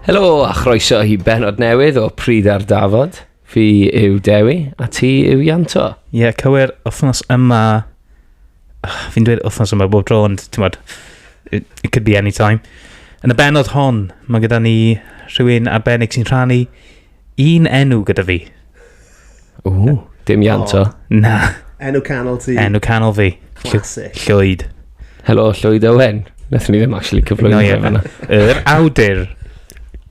Helo a chroeso i benod newydd o Pryd ar Dafod. Fi yw Dewi a ti yw Ianto. Ie, yeah, cywir, wythnos yma... Fi'n dweud wythnos yma bob tro, ond ti'n bod, it, it could be any time. Yn y benod hon, mae gyda ni rhywun arbennig sy'n rhannu Un enw gyda fi. Ww, dim Ian to. Na, Enw canol ti. enw canol fi. Llw- Classic. Llwyd. Helo, Llwyd Owen. Nethon ni ddim actually cyflwyno No, fe ie. fanna. Yr awdur.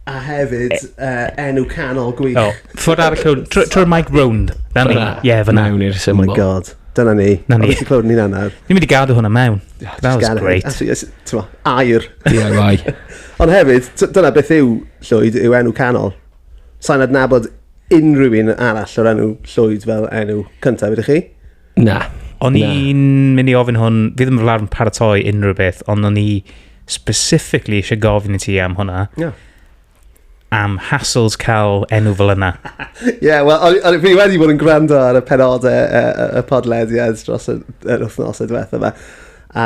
A hefyd, uh, enw canol gwych. O, ffwrdd ar y llwn. Tr- Trwy'r mic round. Na ni. Fanna. Ie, fyna. Mewn i'r Oh symbol. my god. Dyna ni. Na ni. Oeddet ti'n clywed ni'n anad. Ni'n mynd i gadw hwnna mewn. That was great. Air. DIY. Ond hefyd, t- dyna beth yw Llwyd, yw enw canol. Sa'n adnabod unrhyw un arall o'r enw Llwyd fel enw cyntaf, ydych chi? Na. O'n i'n mynd i ofyn hwn, fi ddim yn fawr yn paratoi unrhyw beth, ond o'n i specifically eisiau gofyn i ti am hwnna. Yeah. Am hassles cael enw fel yna. Ie, yeah, wel, o'n fi wedi bod yn gwrando ar y penodau y, y, y podlediad dros yr, yr wythnosau diwethaf yma. A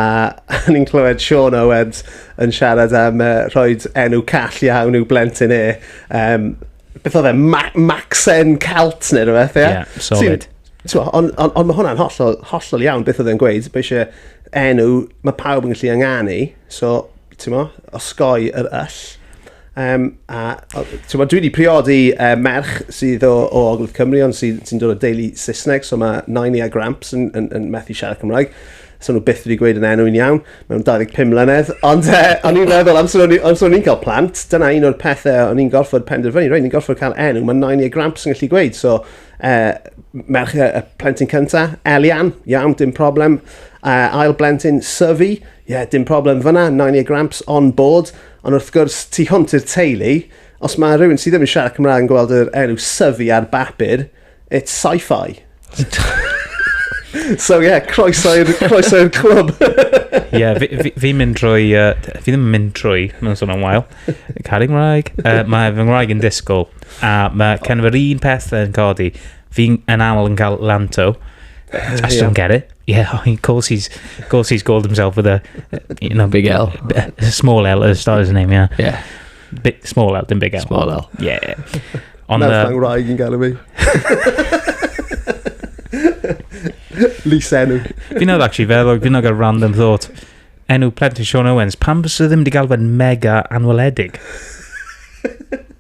o'n i'n clywed Sean Owens yn siarad am uh, rhoi enw call iawn i'w blentyn e. Um, beth oedd e? Ma Maxen Calt neu rhywbeth, ie? Yeah, solid. Ond on, on mae hwnna'n hollol, hollol iawn beth oedd e'n gweud. Mae eisiau enw, mae pawb yn gallu ynganu. So, T'mo'? Osgoi yr yll. Yym a o- yy t'mod dwi 'di priodi yy merch sydd o o Ogledd Cymru ond sydd sy'n dod o deulu Saesneg so ma' nain i a Gramps yn yn yn methu siarad Cymraeg. So nw byth wedi gweud yn enw i'n iawn mewn dau ddeg pum mlynedd ond yy o'n i'n meddwl amser o'n i amser o'n i'n ca'l plant dyna un o'r pethe o- o'n i'n gorffod penderfynu rei' ni'n gorffod ca'l enw ma' nain i a Gramps yn gallu gweud so yy m- merch y y plentyn cynta Elian. Iawn dim problem. Yy ail blentyn Syfi. Ie, dim problem fanna, Narnia Gramps on board, ond wrth gwrs, tu hwnt i'r teulu, os mae rhywun sydd ddim yn siarad Cymraeg yn gweld yr enw Syfi ar bapur, it's sci-fi. so yeah, croeso i'r croeso i'r clwb. Ie, yeah, fi, fi, fi mynd drwy, uh, fi ddim yn mynd drwy, mae'n sôn am wael, caru Cymraeg. Uh, mae fy Ngwraeg yn disgwyl, a mae oh. cenf yr un peth yn codi, Fi'n yn aml yn cael Lanto. I still don't get it. Yeah, I mean, of course he's, of course he's called himself with a... You know, Big L. a small L as start his name, yeah. Yeah, Bi- small L, dim big L. small L. Yeah. Ond... Merch uh, angwraig yn gael ei Lys enw. Fi'n oedd actually feddwl, fi'n oedd gael random thought. Enw plentyn Sean Owens, pam bys ddim wedi gael fe'n mega anweledig?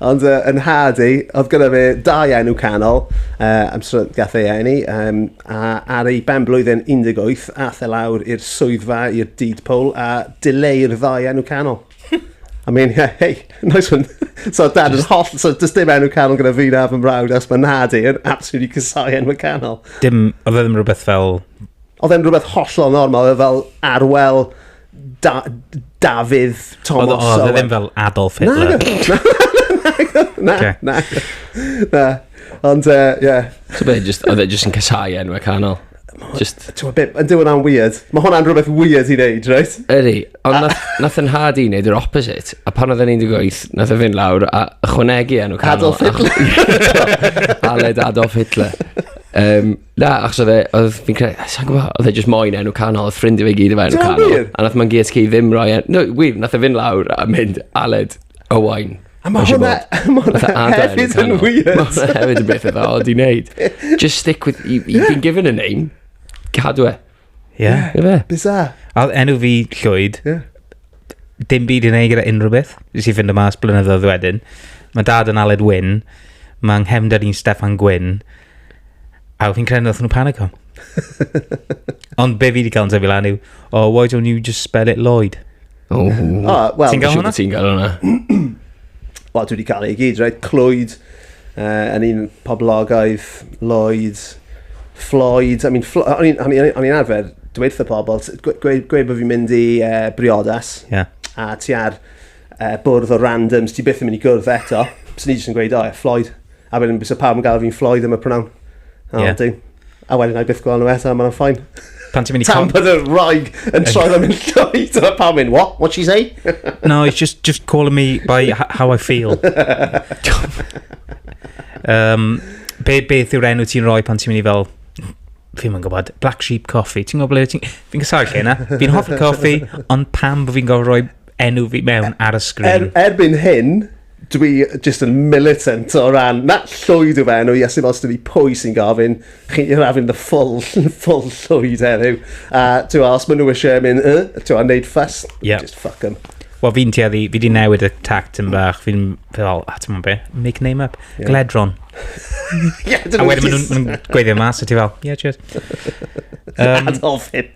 Ond uh, yn nhad i, oedd gyda fe dau enw canol, uh, am srod gath ei enni, um, a ar ei ben blwyddyn 18, ath e lawr i'r swyddfa, i'r deed poll, a dileu'r ddau enw canol. I mean, yeah, hey, nice one. so dad yn holl, so does dim enw canol gyda fi na fy mrawd, as mae nad i'n absolutely cysau enw canol. Dim, oedd e ddim rhywbeth fel... Oedd e'n rhywbeth hollol normal, oedd e fel arwel da, Dafydd Thomas Oedd oedd e ddim fel Adolf Hitler. Na, na, na, na, na. Ond, ie. Uh, yeah. So be, just, oedd e just yn casau enwau canol? Just... Ti'n bit, yn dyw'n am weird. Mae hwnna'n rhywbeth weird i wneud, right? Ydy, ond nath, nath yn hard i wneud yr opposite. A pan oedd yn 18, nath yn fynd lawr a chwnegu enw canol. Adolf Hitler. Aled Adolf Hitler. Um, Na, achos oedd e, oedd fi'n credu, sa'n gwybod, oedd e jyst moyn enw canol, oedd ffrindiau fe gyd efo enw Ti'n canol. wir? A nath ma'n GSK ddim roi enw, no, wir, nath e fynd lawr a mynd Aled Owain. A mae hwnna, ma hwnna Fatha adar enw hefyd yn canol. weird. Ma' hwnna hefyd yn beth eitha odd i wneud. Just stick with, you, you've been given a name, cadw e. Ie. Yeah. Ie fe? Bizarre. A oedd enw fi Llwyd. Ie. Yeah. Dim byd i'n ei gyda unrhyw beth. Nes i fynd y mas blynyddoedd wedyn. Mae dad yn Aled Wyn. Mae nghefnder i'n Stefan Gwyn. A oedd hi'n credu wrth nhw panic o'n. Ond be fi wedi cael yn sefyll lan yw, oh, why don't you just spell it Lloyd? O, wel, ti'n gael hwnna? Ti'n gael hwnna? Wel, dwi wedi cael ei gyd, right? Clwyd, uh, yn un poblogaidd, Lloyd, Floyd, I mean, Flo o'n i'n arfer dweud wrth y pobl, gweud, gweud bod fi'n mynd i uh, briodas, yeah. a ti ar uh, bwrdd o randoms, ti byth yn mynd i gwrdd eto, so ni jyst yn gweud, o, oh, Floyd, A wedyn bysa pawb yn gael fi'n ffloi ddim y pronawn. A yeah. wedyn, a wedyn I byth gweld nhw eto, mae'n ffain. Pan ti'n mynd i... Tam bod y rhaeg yn troi ddim yn llwy, dyna pawb mynd, what? What she say? no, it's just, just calling me by how I feel. um, be, beth yw'r enw ti'n rhoi pan ti'n mynd i fel fi'n mynd gwybod, Black Sheep Coffee, ti'n gwybod ble ti'n... Fi'n gysau lle yna, fi'n hoffi coffi, ond pam bod fi'n gofio rhoi enw fi mewn ar y sgrin? Er, erbyn hyn, Dwi jyst yn militant o ran, na, llwyd yw fe enw i, a sy'n os dwi pwy sy'n gofyn, chi i'r afyn the full, full llwyd heddiw. A ti'n os maen nhw eisiau mynd, uh, ti'n a, neud ffas, yeah. just fuck them. Wel, fi'n tueddu, fi di newid y tact yn bach, fi'n fel, a ti'n mwyn be, make name up, yeah. Gledron. yeah, a wedyn maen nhw'n gweithio mas, a ti fel, yeah, cheers. Um, Adolf Hitler.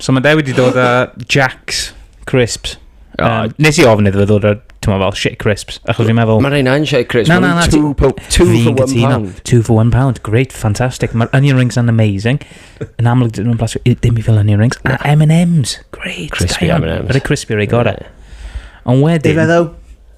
So mae Dewi wedi dod â Jack's Crisps. Oh, um, nes i ofn iddo fe ddod â, ti'n fel, shit crisps. Achos fi'n meddwl... Mae rhain yn shit crisps. Na, na, na. Two, po two for one pound. Two for one pound. Great, fantastic. Mae'r onion rings yn amazing. Yn amlwg, dyn nhw'n blasio dim i fel onion rings. A M&M's. Great. Crispy M&M's. Rhaid crispy rhaid gorau. Ond wedyn... Difeddo.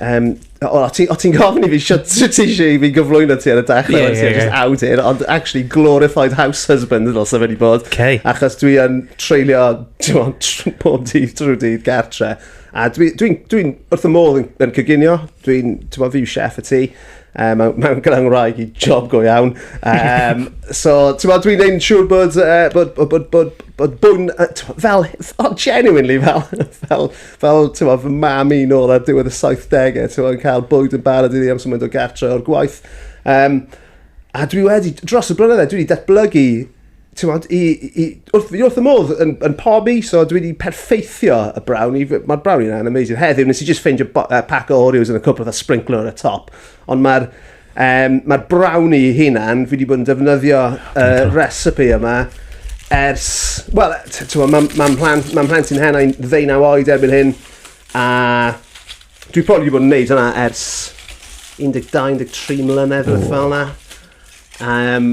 Um, o, o ti'n ti gofyn i fi sut ti eisiau i fi gyflwyno ti ar y dechrau, yeah, yeah, yeah. awdur, ond actually glorified house husband yn ddylse fe wedi bod. Okay. Achos dwi yn treulio pob dydd drwy dydd gartre. A dwi'n dwi, dwi, dwi wrth y modd yn, yn cyginio, dwi'n, ti'n bod, fi chef y ti, um, mewn, mewn gyda'n wraig i job go iawn. Um, so, ti'n bod, dwi'n ein siŵr bod, uh, bod, bod, bod, bod, bod bwn, uh, fel, oh, genuinely, fel, fel, fel, ti'n gwybod, fy mam i nôl ar diwedd y 70au, ti'n gwybod, yn cael bwyd yn barod iddi amser mynd o gartre o'r gwaith. Um, a dwi wedi, dros y blynydde, dwi wedi datblygu ti'n gwybod, i, i, wrth, wrth y modd yn, yn pob i, so dwi wedi perfeithio y brownie. Mae'r brownie yna'n amazing. Heddiw, nes i just ffeindio uh, pack o Oreos yn y cwpl a sprinkler ar y top. Ond mae'r Um, Mae'r brown i hunan, fi wedi bod yn defnyddio y uh, recipe yma ers... Wel, mae'n ma mhlant, ma mhlant i'n hen i'n ddeunaw oed erbyn hyn, a dwi probably wedi bod yn gwneud hwnna ers 12-13 mlynedd rhywbeth fel yna. Um,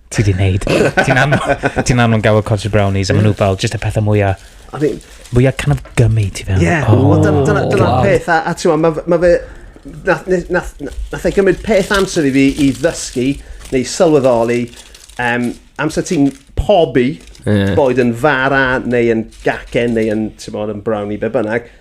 Ti di neud. Ti'n anfon, ti'n anfon gael cottage brownies a maen nhw fel just y pethau mwyaf, I mean, mwyaf kind of gummy ti fel. Ie, oh, wel dyna- dyna dyna'r God. peth, a, a ti'n ma, ma fe, nath, nath, nath, nath e gymryd peth amser i fi i ddysgu neu sylweddoli um, amser ti'n pobi, Ie. boed yn fara neu yn gacen neu yn, ti'n bod, yn brownie, be bynnag,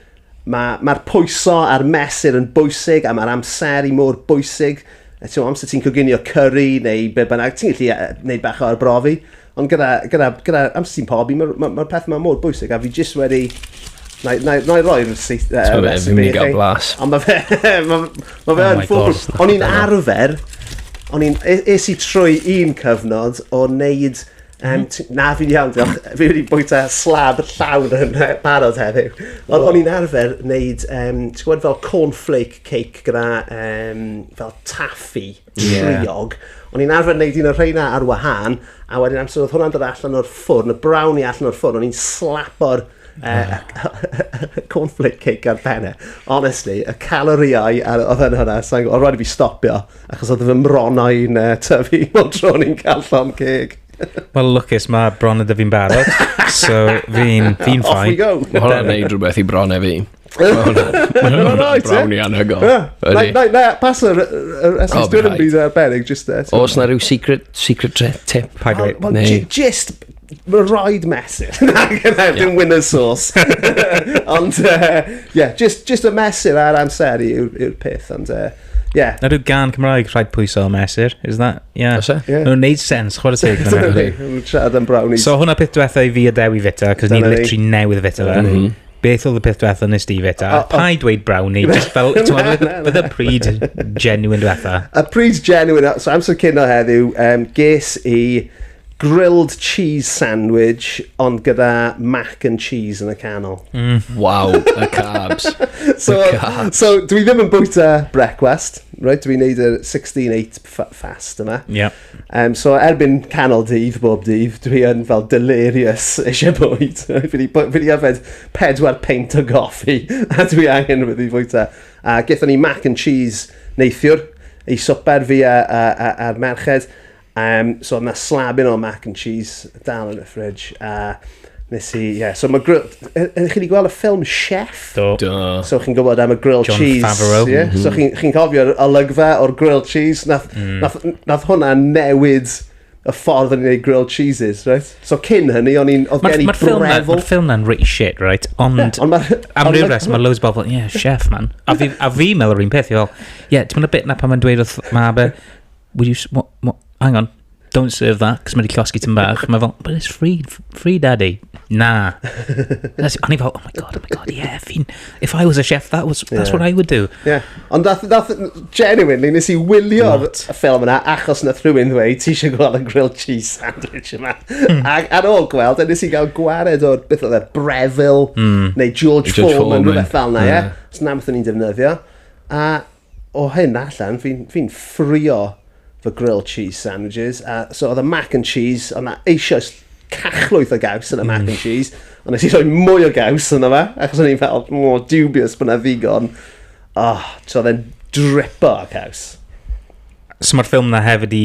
Mae, mae'r pwyso a'r mesur yn bwysig a mae'r amseru mor bwysig. E, ti'n amser ti'n coginio curry neu be bynnag, ti'n gallu e, neud bach o arbrofi. Ond gyda, gyda, gyda amser ti'n pobi, mae'r ma, ma peth yma mor bwysig a fi jyst wedi Na, na, na i roi'r seith... Uh, recipe i chi. blas. Ond mae fe... Mae ma fe oh yn ffwrw. O'n i'n arfer... O'n i'n... Es i trwy un cyfnod o wneud Um, na, fi'n iawn, diolch. Fi wedi bwyta slab llawn yn barod heddiw. Ond o'n i'n arfer wneud, um, ti'n gwybod fel cornflake cake gyda um, fel taffi, triog. Yeah. O'n i'n arfer wneud un o'r rheina ar wahân, a wedyn amser oedd hwnna'n dod allan o'r ffwrn, y brown i allan o'r ffwrn, o'n i'n slapo'r Uh, cornflake cake ar penne. Honestly, y calorïau a oedd yn hwnna, so, oedd rhaid i fi stopio, achos oedd fy mronau'n uh, tyfu mor tro ni'n cael llon ceg. Wel, lwcus, mae bron ydy fi'n barod, so fi'n fi ffain. Off we go. Mae hwnna'n neud rhywbeth i bron e fi. Mae'n rhaid, ie? Brown i anhygol. Na, pas yr esgus dwi'n yn byd arbennig, just there. Os na rhyw secret, secret tip. Paid dweud. Just Mae rhaid mesur. Na, gyda, dim winner's sauce. ond, ie, uh, yeah, just, just y mesur a'r amser yw'r yw peth, ond, ie. Uh, Yeah. Na rhyw gan Cymraeg rhaid pwyso o mesur, is that? Yeah. Oes e? Yeah. Mae'n neud sens, chwarae teg. Mae'n trad am brownies. So hwnna peth diwetha i fi a Dewi fita, cos ni litri newydd fita fe. Mhm. Beth oedd y peth diwetha nes di fita? Pa i dweud brownie, just fel, bydd y pryd genuine diwetha. Y pryd genuine, so amser cyn o heddiw, um, ges i grilled cheese sandwich, ond gyda mac and cheese yn y canol. Mm. Wow, y carbs. so, the carbs. so, dwi ddim yn bwyta brecwast, right? Dwi'n neud y 16-8 fast yma. Yeah. Um, so, erbyn canol dydd, bob dydd, dwi yn fel delirious eisiau bwyd. fi wedi yfed pedwar peint o goffi, a dwi angen wedi bwyta. A gethon ni mac and cheese neithiwr, ei swper fi a'r merched. Um, so oedd na slabyn o mac and cheese dal yn y fridge. A nes i, ie. Yeah. So mae grill... Ydych chi wedi gweld y ffilm Chef? Do. Do. So chi'n gwybod am y grill John cheese. John Favreau. Yeah? Mm -hmm. So chi'n chi cofio'r olygfa o'r grill cheese. Nath, mm. nath, nath hwnna newid y ffordd yn ei grill cheeses, right? So cyn hynny, o'n i'n... Oedd gen i brefl... Mae'r ffilm na'n reit shit, right? Ond yeah, on am rhyw res, mae loads o bobl, yeah, chef, man. A fi, a fi meddwl yr un peth, i fel, yeah, ti'n mynd y bit na pan mae'n dweud wrth ma be, would you, what, what, hang on, don't serve that, cos mae'n llosgi ti'n bach. Mae fel, but it's free, free daddy. Na. That's, o'n i fel, oh my god, oh my god, yeah, fi'n, if I was a chef, that was, that's yeah. what I would do. Yeah. Ond dath, dath, genuinely, nes i wylio'r ffilm yna, achos na rhywun ddweud, ti eisiau gweld y grilled cheese sandwich yma. Mm. Ac ar ôl gweld, a nes i gael gwared o'r, beth oedd e, Breville, mm. neu George, George Foreman, rhywbeth fel yna, ie. Yeah. Os na, beth o'n i'n defnyddio. A o hyn allan, fi'n fi ffrio fy grilled cheese sandwiches, a so oedd y mac and cheese, oedd na eisoes cachlwyth o gaws yn y mac and mm. cheese, ond nes i roi mwy o gaws yna fe, achos o'n i'n fel, mor dubious bod na ddigon. Oh, so oedd e'n dripo o caws. So mae'r ffilm na hefyd i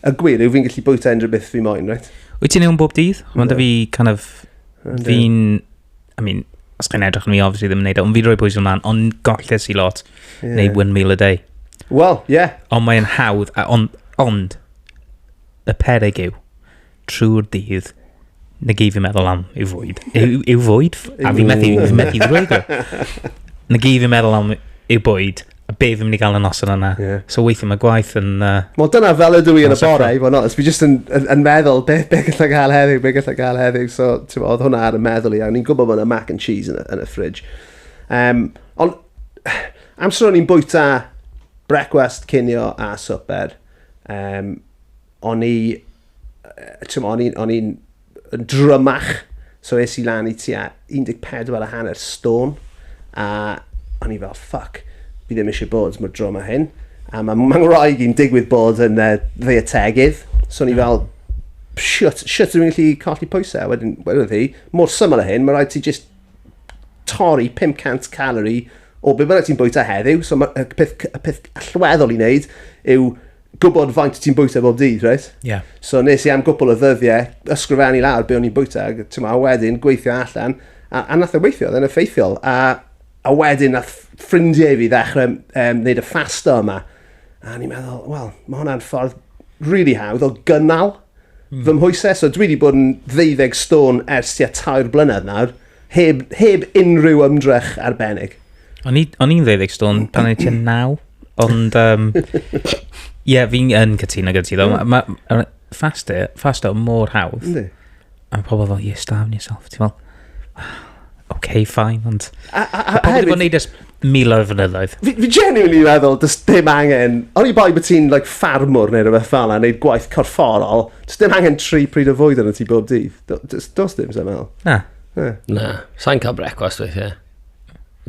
Y gwir yw fi'n gallu bwyta unrhyw beth fi moyn, right? Wyt ti'n ewn bob dydd? Ond da fi kind of... Fi'n... I mean, os chi'n edrych yn mi, obviously ddim yn neud o, e, ond fi'n rhoi pwysau ymlaen, ond golles i lot, yeah. neu one meal a day. Wel, ie. Yeah. Ond mae'n hawdd, ond, ond, y perig yw, trwy'r dydd, na gei fi meddwl am yw fwyd. Yw, yw fwyd? A fi methu, fi methu ddweud o. Na gei fi meddwl am yw bwyd, a be fi'n mynd i gael y noson yna. Yeah. So weithio mae gwaith yn... Uh, Wel dyna fel ydw i yn y bore, i fod yn onest. Fi jyst yn, yn, yn meddwl, be, be gallai gael heddiw, be gallai gael heddiw. So, ti'n oedd hwnna ar y meddwl i, a ni'n gwybod bod yna mac and cheese yn y, yn y fridge. Um, ond, amser o'n i'n bwyta brecwast, cinio a swper, um, o'n i, o'n i'n, o'n i'n drymach, so es i lan i tua 14 a hanner stôn, a o'n i fel, ffuck, fi ddim eisiau bod mor drwm a hyn. A mae ma ngwraig i'n digwydd bod yn uh, dde y tegydd, so o'n i fel, shwt, shwt ydw i'n gallu colli pwysau? Wedyn, wedyn hi, mor syml o hyn, mae rhaid ti just torri 500 calorie o beth bynnag ti'n bwyta heddiw. So mae y peth, y peth allweddol i wneud yw gwybod faint ti'n bwyta bob dydd, reit? Ie. Yeah. So nes i am gwpl o ddyddiau ysgrifennu lawr be o'n i'n bwyta, ti'n a wedyn gweithio allan, a, a nath o e weithio, dda'n effeithiol. A, a wedyn nath ffrindiau fi ddechrau um, wneud y ffasta yma. A ni'n meddwl, wel, mae hwnna'n ffordd really hawdd o gynnal mm. fy mhwysau. So dwi wedi bod yn ddeuddeg stôn ers tua tair blynedd nawr. Heb, heb unrhyw ymdrech arbennig. O'n i- o'n i'n ddeuddeg stôn pan o'n i tua naw, ond um, ie, fi'n yn cytuno gyda ti ddo. Mae ma, ma, fasto, fasto mor hawdd. Yndi. A mae pobl fel, you starving yourself. Ti'n fel, "Wel, okay, fine, ond... A, a, a, Pobl wedi bod yn hefyd, neud ers miloedd o fynyddoedd. Fi, fi genuinely meddwl, does dim angen, o'n i bai bod ti'n like, ffarmwr neu rhywbeth fel yna, neud gwaith corfforol, does dim angen tri pryd o fwyd yn y ti bob dydd. Does, does dim, sy'n meddwl. Na. Na. Na, sa'n cael brecwast weithiau.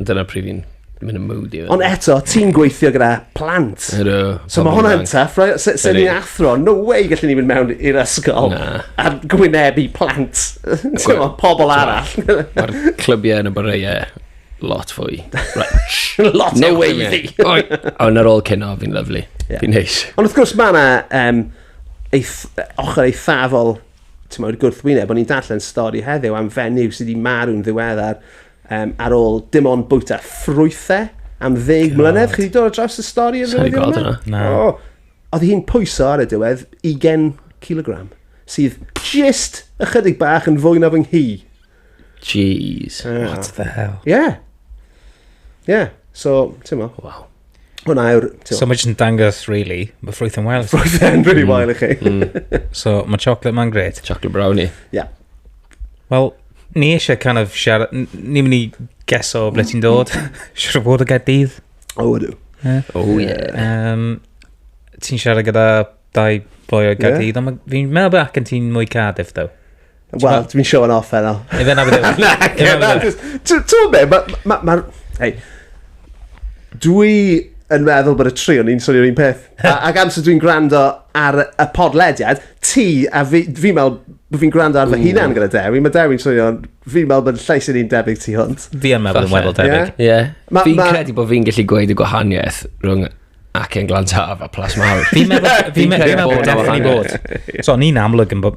Dyna pryd fi'n mynd yn moody. Ond eto, ti'n gweithio gyda plant. Ydw. So mae hwnna'n tough, right? Se, se ni'n athro, no way gallwn ni fynd mewn i'r ysgol Na. a gwynebu plant. Ti'n pobl arall. Mae'r clybiau yn y boreiau Lot fwy. Right. Lot no way i fi. Ond ar ôl cynno, fi'n lyflu. Yeah. Fi'n neis. Ond wrth gwrs mae yna um, eith, ochr eithafol ti'n meddwl, gwrthwyneb, o'n i'n darllen stori heddiw am fenyw sydd wedi marw'n ddiweddar um, ar ôl dim ond bwyta ffrwythau am ddeg mlynedd. Chi wedi dod o draws y stori yn rhywbeth yma? yna. Na. Oh, oedd hi'n pwyso ar y diwedd 20 kilogram, sydd just ychydig bach yn fwy na fy nghi. Jeez, what the hell? Ie. Yeah. Ie, yeah. so, ti'n mo. Wow. Hwna yw'r... So mae jyst yn dangos, really, mae ffrwyth yn wael. Ffrwyth yn really mm. wael i chi. Mm. so mae chocolate ma'n gret. Chocolate brownie. Ie. Yeah. Wel, ni eisiau kind of siarad, ni'n mynd i geso ble ti'n dod. Siarad o fod o Gaerdydd. O, ydw. O, ie. Ti'n siarad gyda dau boi o Gaerdydd, ond fi'n meddwl bod ac yn ti'n mwy Cardiff, ddo. Wel, dwi'n showing off heno. Ei fe na fi ddim. Na, Ie, na, jyst- t- t'wod be', ma' ma' ma' ma'r... Hei. Dwi yn meddwl bod y tri o'n i'n swnio'r un peth. A- Ac amser dwi'n gwrando ar y y podlediad, ti a fi, fi'n me'wl bo' fi'n gwrando ar fy hunan gyda Dewi, ma' Dewi'n swnio'n... Fi'n me'wl bod llais i ni'n debyg tu hwnt. Fi yn meddwl yn Falle. weddol debyg. Ie. Ie. Ma- Fi'n ma- credu bod fi'n gallu gweud y gwahaniaeth rhwng Ac yn Glan Taf a Plas Mawr. Fi'n meddwl fi'n meddwl bod definitely bod. So, ni'n amlwg yn bod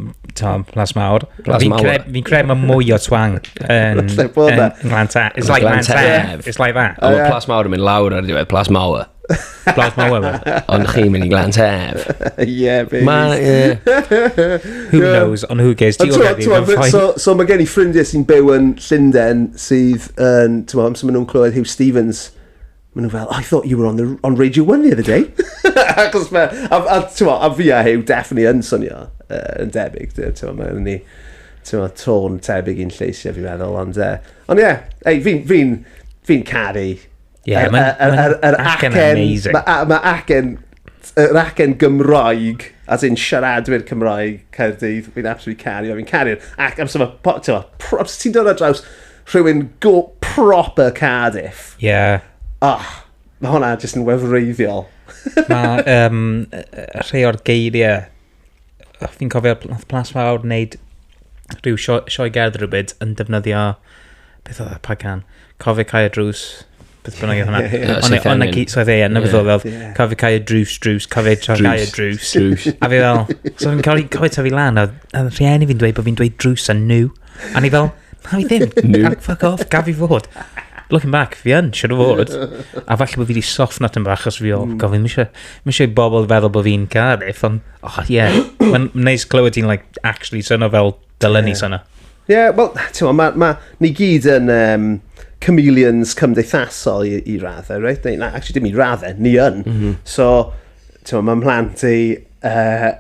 Plas Mawr. Plas Mawr. Fi'n credu mae mwy o twang yn Glan Taf. It's like Glan Taf. It's like that. Ond Plas Mawr yn mynd lawr ar diwedd. Plas Mawr. Plas Mawr. Ond chi'n mynd i Glan Taf. Yeah, baby. Ma, Who knows, on who gives. So, mae gen i ffrindiau sy'n byw yn Llynden sydd yn, ti'n meddwl, amser maen nhw'n clywed Hugh Stevens Maen nhw fel, oh, I thought you were on, the, on Radio 1 the other day. Achos mae, a, a, a, a fi a Hugh definitely yn swnio uh, yn debyg. Mae'n ni, ti'n ma, tôn tebyg i'n lleisiau fi'n meddwl. Ond, uh, ond ie, yeah, fi'n fi, fi caru. Yeah, mae'r acen amazing. Mae acen, yr acen Gymraeg, as in siaradwyr Cymraeg, Caerdydd, fi'n absolutely caru. Fi'n caru. Ac amser mae, ti'n ma, ti'n dod ar draws, Rhywun go proper Cardiff. Ie. Yeah. Oh, mae hwnna jyst yn wefreiddiol. mae um, rhai o'r geiriau, fi'n cofio nath Plas Fawr wneud rhyw sioe, sioe gerdd rhywbyd yn defnyddio, beth oedd e, pa gan? Cofio cael drws. beth bynnag yw hwnna. Ie, ie. Ond Swydd ond na Ffenin. gyd, Swydd Ffenin, na beth Ie. oedd, oedd, Ie. cael fi cael y drws, drws, cael fi cael y drws. Drws. A fi fel, so fi'n cael ei cael ei tyfu lan, a a rhieni fi'n dweud bod fi'n dweud drws a nhw. A ni fel, na fi ddim, Nhw. Gaf- fuck off, gaf i fod. Looking back, fi yn, siwr o fod. A falle bod fi wedi soffno tyn bach, os fi o, Mm. gofyn, mi eisiau, mi eisiau i bobl feddwl bod fi'n Cardiff, ond, oh, ie. Yeah. Mae'n neis clywed ti'n, like, actually syno fel Dylen ni sona. Ie, yeah, wel, ti'n ma, ma, ni gyd yn um, chameleons cymdeithasol i, i raddau, right? Neu, na, actually, dim i raddau, ni yn. Mm -hmm. So, ti'n ma, mae mhlant i uh,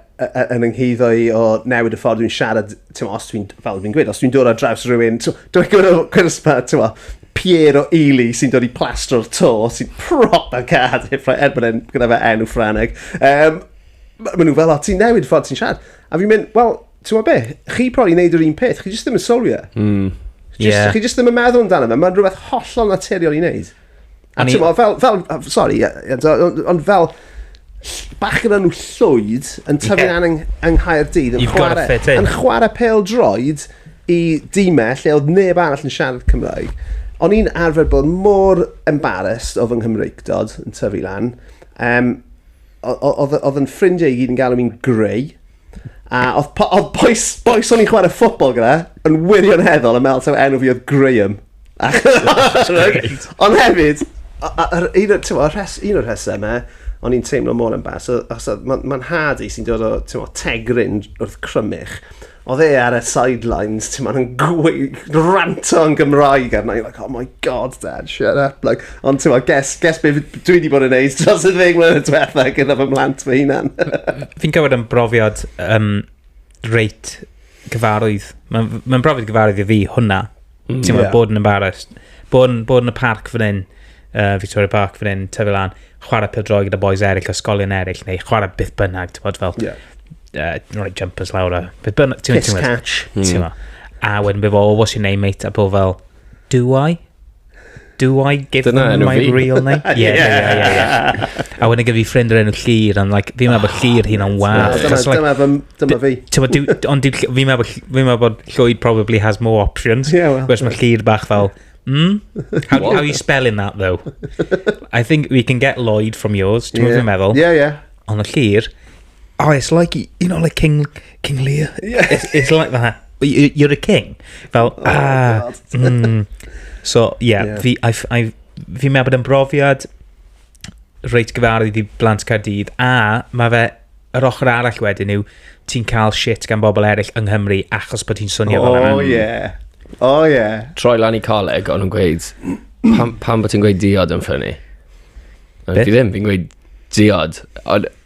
yn yngheiddo i o newid y ffordd dwi'n siarad, ti'n ma, os dwi'n, fel dwi'n gweud, os dwi'n dod ar draws rhywun, dwi'n gwneud o cwrs ma, ti'n ma, Pierre o Ely sy'n dod i plastro'r to, sy'n proper cad, er bod e'n gyda fe enw Ffraneg. Um, Maen nhw fel, o, ti'n newid ffordd ti'n siarad. A fi'n mynd, wel, Ti'n gwybod beth? Chi probably wneud yr un peth, chi jyst ddim yn sylwi e. Mm. Just, yeah. Chi jyst ddim yn meddwl amdano fe, mae'n rhywbeth hollol naturiol i wneud. A ti'n gwybod, fel, fel, sorry, ond fel, bach gyda nhw llwyd yn tyfu yeah. yng, yng Nghaerdydd yn chwarae, yn chwarae pel droed i dîmau lle oedd neb arall yn siarad Cymraeg. O'n i'n arfer bod mor embarrassed o fy Nghymreigdod yn tyfu lan. Um, oedd yn ffrindiau i gyd yn galw mi'n greu. A oedd, po oedd boys, boys o'n i'n chwarae ffobl gyda, yn wirioneddol yn meddwl taw enw fi oedd Graham. Ond hefyd, un o'r rhesymau, o'n i'n teimlo mor yn bas, mae'n ma nhad i sy'n dod o mo, tegrin wrth crymych, oedd e ar y sidelines, ti'n ma'n gweud, ranto yn Gymraeg arna i, like, oh my god, dad, shut up, like, Ond ti'n meddwl, guess, guess beth dwi wedi bod yn neud dros y ddeg mlynedd diwetha gyda fy mhlant fy hunan. Fi'n cywed yn brofiad um, reit gyfarwydd. Mae'n ma brofiad gyfarwydd i fi hwnna. Mm, ti'n meddwl, yeah. bod yn embarrassed. Bod yn, bod yn y parc fan hyn, uh, Victoria Park fan hyn, tyfu lan, chwarae pildroi gyda boys eraill, ysgolion eraill, neu chwarae byth bynnag, ti'n bod fel... Yeah. Uh, right jumpers lawr a... Byth bynnag, ti'n meddwl... Kiss catch. Ti'n meddwl. Hmm. A wedyn beth fo, o, what's your name, mate? A bod fel, Do I? Do I give Dyna them my fi. real name? yeah, yeah, yeah, yeah, yeah. A wedyn gyda fi ffrind o'r enw Llyr, and like, fi'n meddwl bod Llyr hi'n am wath. Dyma, like, dyma, fy, dyma fi. Tyma, do, ond do, fi'n meddwl bod, fi'n meddwl bod Llwyd probably has more options. Yeah, well. Whereas mae Llyr bach fel, Hmm? How, how are you spelling that, though? I think we can get Lloyd from yours. Ti'n yeah. meddwl? Yeah, yeah. Ond y llir, Oh, it's like, you know, like King, King Lear. Yeah. It's, it's like that. You, you're a king. Fel, oh, ah. Mm. So, yeah, yeah. fi, I've, I've, fi meddwl bod yn brofiad reit gyfarwydd i blant Caerdydd, a mae fe, yr ochr arall wedyn yw, ti'n cael shit gan bobl eraill yng Nghymru achos bod ti'n swnio oh, fel yna. Oh, yeah. Oh, yeah. Troi lan i coleg, ond yn gweud, pam, pam bod ti'n gweud diod yn ffynnu? Fi ddim, fi'n gweud diod. Ond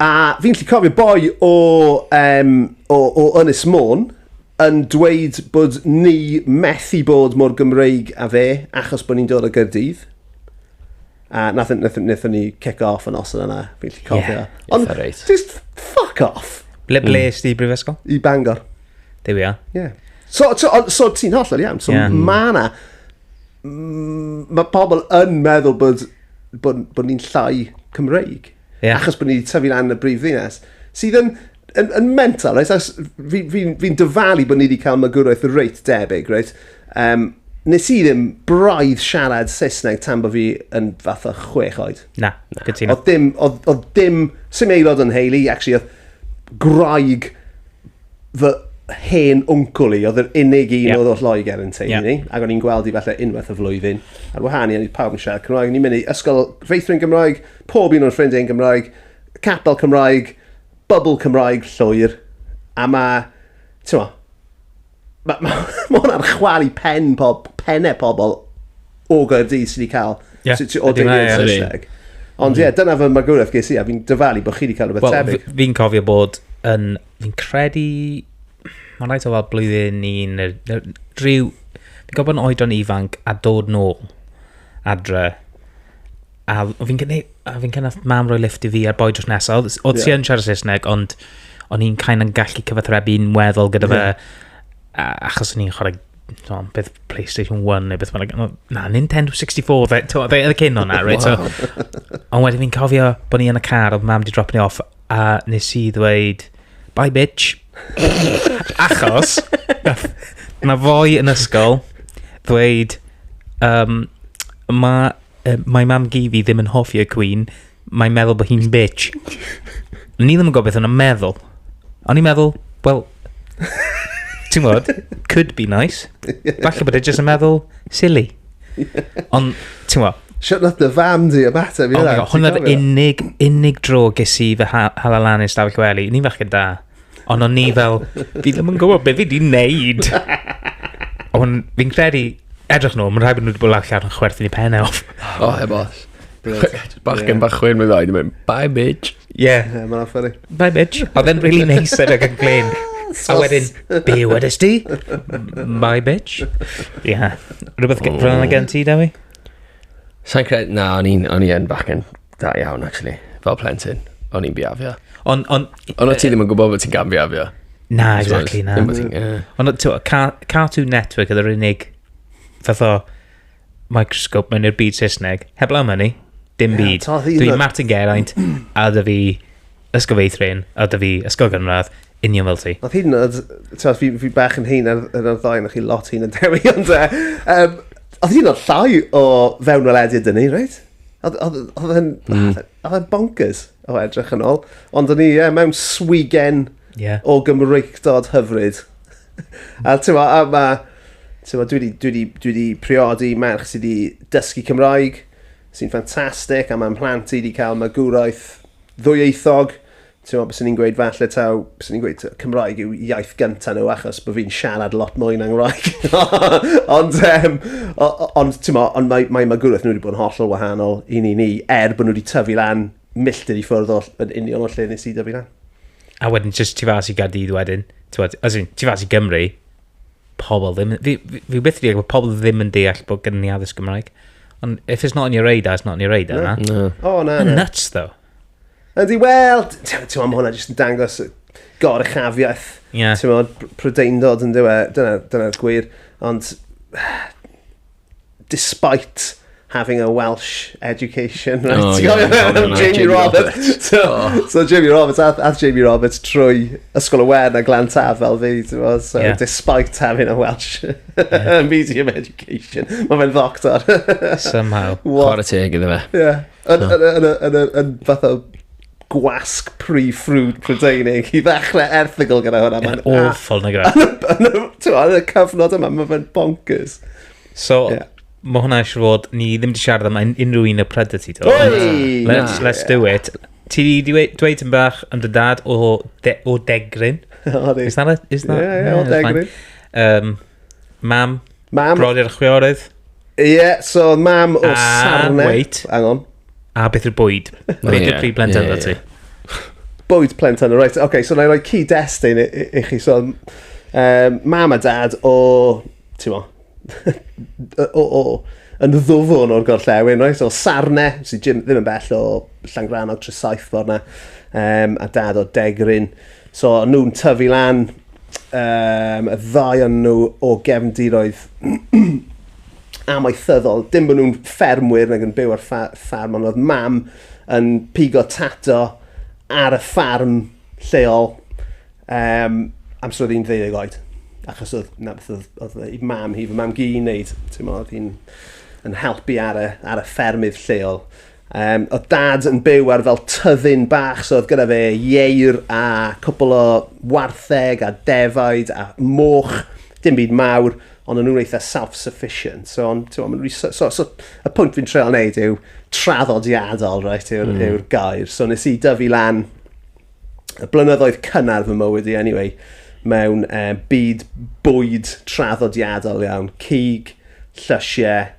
A fi'n lli cofio boi o, um, o, o Ynys Môn yn dweud bod ni methu bod mor Gymreig a fe achos bod ni'n dod o Gyrdydd. A nath, nath, nath ni kick off yn os yna, fi'n lli cofio. Yeah, Ond, right. just fuck off. Ble ble mm. di brifysgol? I Bangor. There we are. Yeah. So, so, so ti'n hollol iawn. So, yeah. mae yna... Mae pobl yn meddwl bod, bod, bod ni'n llai Cymreig. Yeah. Achos bod ni wedi tyfu lan yn y brif ddinas. Sydd yn, yn, yn mental, right? Fi'n fi, fi dyfalu bod ni wedi cael magwraeth reit debyg, right? Um, nes i ddim braidd siarad Saesneg tan bod fi yn fath o chwech oed. Na, gytuno. Oedd dim, oedd, oedd dim, sy'n aelod yn heili, actually, oedd graig fy hen wncwl i, oedd yr unig un yeah. oedd o Lloegr yn teulu yeah. ni, ac o'n i'n gweld i falle unwaith y flwyddyn. Ar wahân i, o'n i pawb yn siarad Cymraeg, o'n i'n mynd i ysgol feithrin Gymraeg, pob un o'n ffrindiau'n Gymraeg, capel Cymraeg, bubble Cymraeg llwyr, a mae, ti'n mo, mae ma, ma hwn ar chwal i pen pob, penne pobl o Gaerdydd sydd wedi cael yeah, sy, sy, o deiliad Saesneg. Ond ie, yeah, dyna fy magwraeth ges i, a fi'n dyfalu bod chi wedi cael rhywbeth well, tebyg. Fi'n cofio bod yn, fi'n credu, mae'n rhaid o fel blwyddyn un, rhyw, fi'n gofio bod yn oedran ifanc a dod nôl adre A fi'n gynnu, a fi'n cynnu mam roi lift i fi a'r boi drws nesaf. Oedd, oedd yeah. ti yn siarad Saesneg, ond o'n i'n cael yn gallu cyfathrebu'n weddol gyda fe. Yeah. Achos o'n i'n chwarae no, beth PlayStation 1 neu beth mae'n... Na, Nintendo 64, fe, to, fe oedd y cyn o'na, right? Wow. So, ond wedyn fi'n cofio bod ni yn y car, oedd mam di drop ni off, a nes i ddweud, bye bitch. Achos, na fwy yn ysgol, ddweud, um, mae Uh, mae mam Gifi ddim yn hoffi y Queen. Mae'n meddwl bod hi'n bitch. Ni ddim yn gwybod beth yna'n meddwl. O'n i'n meddwl, wel, ti'n gwybod, could be nice. Falle bod e jyst yn meddwl, silly. Ond, ti'n gwybod, Shut not the fam di y mater fi oh yna. Hwna'r unig, unig dro ges i fy halalanus dafell wely. Ni'n fachgen da. Ond o'n ni fel, fi ddim yn gwybod beth fi di wneud. Ond fi'n credu, edrych nhw, mae'n rhaid bod nhw wedi bod lawr llaw yn chwerthin i pen e off. O, heb os. Bachgen bach chwein mynd oed, mynd, bye bitch. Ie. Yeah. Yeah, mae'n ffynnu. Bye bitch. Oedd e'n really nice edrych yn glyn. A wedyn, be wedys di? Bye bitch. Ie. Yeah. Rhywbeth oh. gen ti, Dewi? Sa'n credu, na, o'n i'n bachgen Da iawn, actually. Fel plentyn, o'n i'n biafio. Ond... On, ond ti ddim yn gwybod bod ti'n gan biafio. Na, exactly, na. Ond ti'n Cartoon Network oedd yr unig fath o microscope mewn i'r byd Saesneg. Heb law myny, dim byd. Dwi'n Martin Geraint, a dda fi ysgol feithrin, a dda fi ysgol gynradd, union fel ti. Oedd hyn, fi, fi bach yn hyn ar yr ddau, na chi lot hyn yn dewi, ond... Um, oedd hyn o'n llai o fewn welediad dyn ni, reit? Oedd yn... Hmm. Oedd yn bonkers o edrych yn ôl. Ond o'n i, ie, mewn swigen yeah. o gymreictod hyfryd. a ti'n ma, a ma, ti'n ma, dwi wedi, dwi wedi, dwi wedi priodi merch sydd wedi dysgu Cymraeg, sy'n ffantastig, a mae'n mhlant i wedi cael magwraeth ddwyieithog, ti'n meddwl, bys ni'n gweud falle taw, bys ni'n gweud Cymraeg yw iaith gynta nhw achos bod fi'n siarad lot mwy na'n Gymraeg. ond, um, ond, ti'n meddwl, ond mae, mae magwraeth nhw wedi bod yn hollol wahanol i ni ni, er bod nhw wedi tyfu lan milltir i ffwrdd o'r yn union o'r lle nes i dyfu lan. A wedyn, jyst ti fas i Gardydd wedyn, ti'n meddwl, as in, ti fas i Gymru, pobl ddim, fi, fi, fi byth wedi bod pobl ddim yn deall bod gen ni addysg Gymraeg. Ond if it's not on your radar, it's not on your radar, na? No. O, na, na. Nuts, though. Ydy, wel, ti'n meddwl, mae hwnna jyst yn dangos goruchafiaeth. Ie. Yeah. Ti'n meddwl, prydeindod yn dywe, dyna'r dyna gwir. Ond, despite having a Welsh education, right? Oh, yeah, yeah, yeah, Jamie, Jamie Roberts. Roberts. so, oh. so Jamie Roberts, ath, ath Jamie Roberts trwy Ysgol y Wen a Glan Taf fel fi, ti'n meddwl, so yeah. despite having a Welsh yeah. medium education, mae fe'n ddoctor. Somehow. What? Chwarae teg iddo fe. Yeah. Yn yn y yn y yn y yn fath o gwasg pre-fruit Prydeinig i ddechrau erthygl gyda hwnna. Mae'n awful na gyda. Yn y cyfnod yma, mae fe'n bonkers. So, yeah. mae hwnna eisiau fod, ni ddim wedi siarad am unrhyw un o Predity. Let's, let's do it. Ti wedi dweud yn bach yn dy dad o, de, o Degrin. Is that it? Is that? Yeah, yeah, yeah o Degrin. Um, Mam. Mam. Brodyr a chwiorydd. Ie, yeah, so mam o Sarne. Wait. Hang on. A beth yw'r bwyd? Beth yw'r prif blentyn yeah, yeah, yeah. Bwyd plentyn, o reit. Okay, so na i roi cyd-destun i, i, i chi. So, um, mam a dad o, ti'n mo, o, o, yn ddwfwn o'r gorllewin, right? So, Sarne, sy'n Jim ddim yn bell o Llangrannog Tresaethfor na, um, a dad o Degrin. So o'n nhw'n tyfu lan, um, y ddau o'n nhw o gefndiroedd amaethyddol. Dim bod nhw'n ffermwyr nag yn byw ar ffarm, ond oedd mam yn pigo tato ar y ffarm lleol um, amser oedd hi'n ddeuddeg oed. Achos oedd, na, oedd, oedd, oedd mam hi, fy mam gi'n neud, ti'n modd, oedd hi'n yn helpu ar y, ar y ffermydd lleol. Um, oedd dad yn byw ar fel tyddyn bach, so oedd gyda fe ieir a cwpl o wartheg a defaid a moch, dim byd mawr, ond o'n nhw'n eitha self-sufficient. So, on, so, so, so, so, y pwynt fi'n treol wneud yw traddodiadol, right, yw'r mm. yw gair. So nes i dyfu lan y blynyddoedd cynnar fy mywyd i, anyway, mewn uh, byd bwyd traddodiadol iawn, cig, llysiau,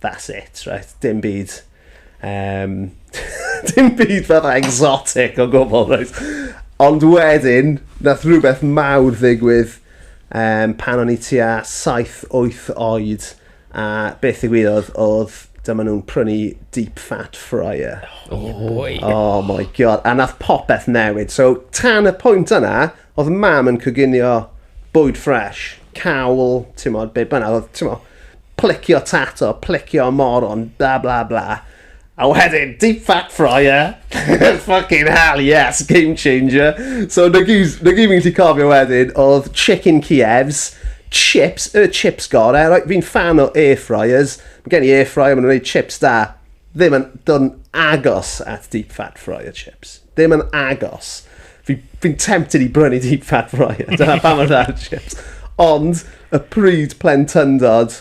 That's it, right. Dim byd... Um, dim byd fatha exotic o gwbl, right. Ond wedyn, nath rhywbeth mawr ddigwydd um, pan o'n i tua 7-8 oed. A beth ddigwyddodd oedd dyma nhw'n prynu deep fat fryer. Oh, oh my god. A nath popeth newid. So, tan y pwynt yna, Oedd mam yn coginio bwyd ffresh, cawl, timod, be bynnag, oedd, timod, plicio tato, plicio moron, bla bla bla. A wedyn, deep fat fryer, fucking hell, yes, game changer. So, na gyd, na gyd fi'n gallu cofio wedyn, oedd chicken Kievs, chips, y chips gore, right? fi'n fan o air fryers, mae gen i air fryer, maen nhw'n gwneud chips da. Ddim yn dod yn agos at deep fat fryer chips. Ddim yn agos. Fi, fi'n tempted i brynu deep fat fryer. Dyna pa mor dda yw'r chips. Ond y pryd plentyndod,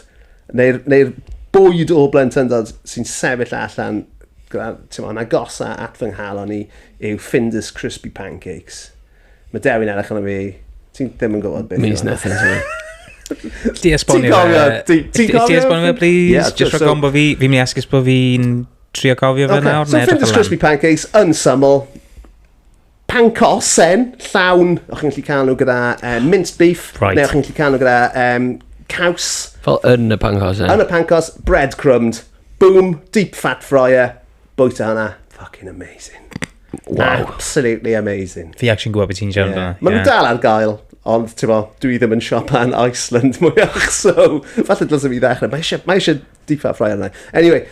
neu'r neu bwyd o blentyndod sy'n sefyll allan, ti'n yn agosa at fy nghalon i, yw Findus Crispy Pancakes. Mae Dewi'n edrych yn fi, ti'n ddim yn gwybod beth. Means nothing to me. Ti esbonio fe. Ti esbonio fe, please? Just rhaid gombo fi, fi'n mynd i esgus bod fi'n trio cofio fe nawr. So Findus Crispy Pancakes yn syml, pancosen llawn, o'ch chi'n gallu cael nhw gyda uh, minced beef, right. neu o'ch chi'n gallu cael nhw gyda um, caws. Fel yn y pancos, eh? Yn y pancos, breadcrumbed, boom, deep fat fryer, bwyta hwnna, fucking amazing. Wow. Absolutely amazing. Fi actually'n gwybod beth ti'n siarad yeah. amdano. Mae nhw'n dal ar gael, ond ti'n bo, dwi ddim yn siopa yn Iceland mwyach, so falle dylsyn fi ddechrau. Mae eisiau, mae eisiau Deep fat fryer yna. Anyway,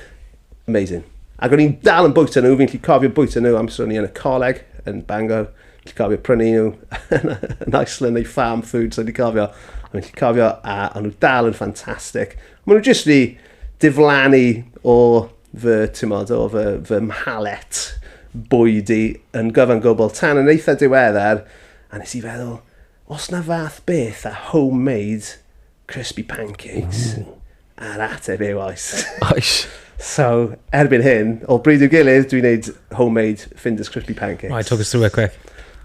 amazing. Ac o'n i'n dal yn bwyta nhw, fi'n lli cofio bwyta nhw amser o'n i yn y coleg, yn Bangor. Fi'n lli cofio prynu nhw yn Iceland neu farm food, so fi'n cofio. Fi'n lli cofio, a o'n nhw dal yn ffantastig. Mae nhw jyst fi diflannu o fy, ti'n modd, o fy, fy mhalet bwyd i yn gyfan gwbl tan yn eitha diweddar, a nes i feddwl, os na fath beth a homemade Crispy pancakes. Ww. A'r ateb yw oes. Oes. So, erbyn hyn, o bryd i'w gilydd, dwi'n neud homemade Finders Crispy pancakes. Right, talk us through it quick.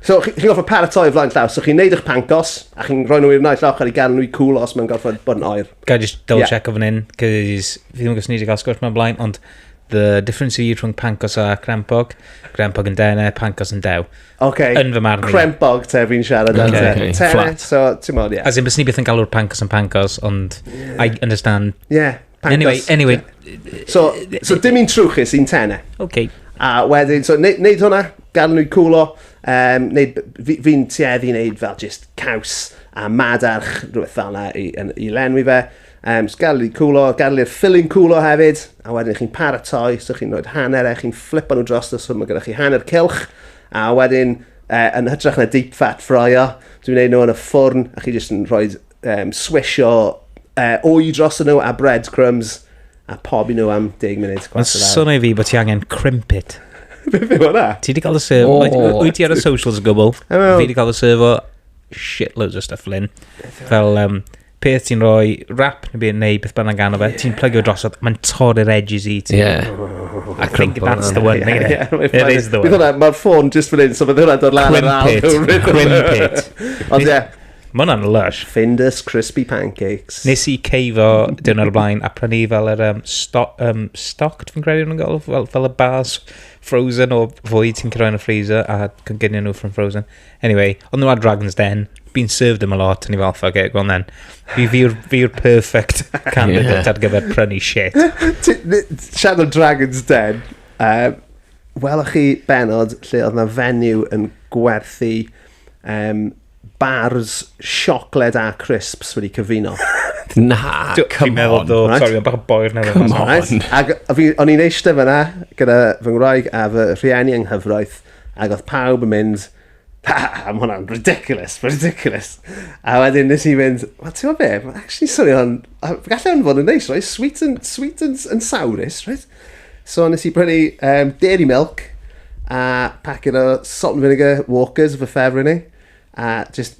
So, chi'n chi gorfod paratoi flaen llaw. So, chi'n neud eich pancos, a chi'n rhoi nhw i'r naill ochr i gael nhw'i cool os mae'n gorfod bod yn oer. Ga just double yeah. check o fan hyn, cys fi ddim yn gwybod ni wedi cael sgwrs mewn blaen, ond the difference i rhwng pancos a crempog, crempog yn dene, pancos yn dew. Ok, yn fy marn crempog te fi'n siarad am te. Okay. Te, Flat. so, ti'n modd, ie. As in, bys ni beth yn galw'r pancos yn pancos, ond yeah. I understand. Yeah, pancos. Anyway, anyway. Yeah. So, so dim un trwchus, un tene. Ok. A wedyn, so, neud, neud hwnna, gadw nhw'n cwlo, um, neud, fi'n fi tueddu i neud fel just caws a madarch, rhywbeth fel yna i, i lenwi fe. Um, so gael i cwlo, gael i'r ffilin cwlo hefyd, a wedyn chi'n paratoi, so chi'n rhoi hanner e, chi'n flipo nhw dros, so mae gennych chi hanner cilch, a wedyn uh, yn hytrach na deep fat ffroio, dwi'n gwneud nhw yn y ffwrn, a chi jyst yn rhoi um, swisio uh, o'i dros nhw a breadcrumbs, a pob i nhw am 10 munud. Mae'n swnio fi bod ti angen crimpit. Beth yw hwnna? Ti wedi cael y serf... Oh, wyt ti ar y socials yn gwbl? Fi wedi cael y serf o shitloads o stuff, Lynn. Fel... Um, peth ti'n rhoi rap neu beth, neu beth bynnag arno fe, yeah. ti'n plygio drosodd, mae'n torri'r edges i ti. Yeah. I think that's the one, yeah, yeah. It is the one. Bydd hwnna, mae'r ffôn just fan hyn, so bydd hwnna dod lan ar al. Crimpit. Ond ie. Mae hwnna'n lush. Findus Crispy Pancakes. Nes i ceifo dyn o'r blaen a prynu fel yr um, sto, um, stocked, fi'n credu nhw'n gael, fel, fel y bars frozen o fwy ti'n cyrraedd yn y freezer a cyngynion nhw from frozen. Anyway, oedd nhw ar Dragon's Den, been served them a lot, ni fel, fuck it, go on then. Fi, fi yw'r fi yw'r perfect candidate ar gyfer prynu shit. Ti- ni- Siarad am Dragon's Den, um, welwch chi benod lle oedd na fenyw yn gwerthu um, bars siocled a crisps wedi cyfuno. Na, Dw- Fi'n come meddwl, on. do, right. sorry, ond bach o boi'r newydd. Come mas. on. Right? Ac fi, o'n i'n eistedd fyna gyda fy ngwraig a fy rhieni yng nghyfraith, Ap. Ac oedd pawb yn mynd, ha ha ha, mae hwnna'n ridiculous, mae'n ridiculous. A wedyn nes i fynd, wel, ti'n gwybod be, mae'n actually swnio'n, gallai hwn fod yn neis, right? Sweet and, sweet and, and sourus, right? So nes i brynu um, dairy milk a packet o salt and vinegar walkers fy ffefr i ni. A just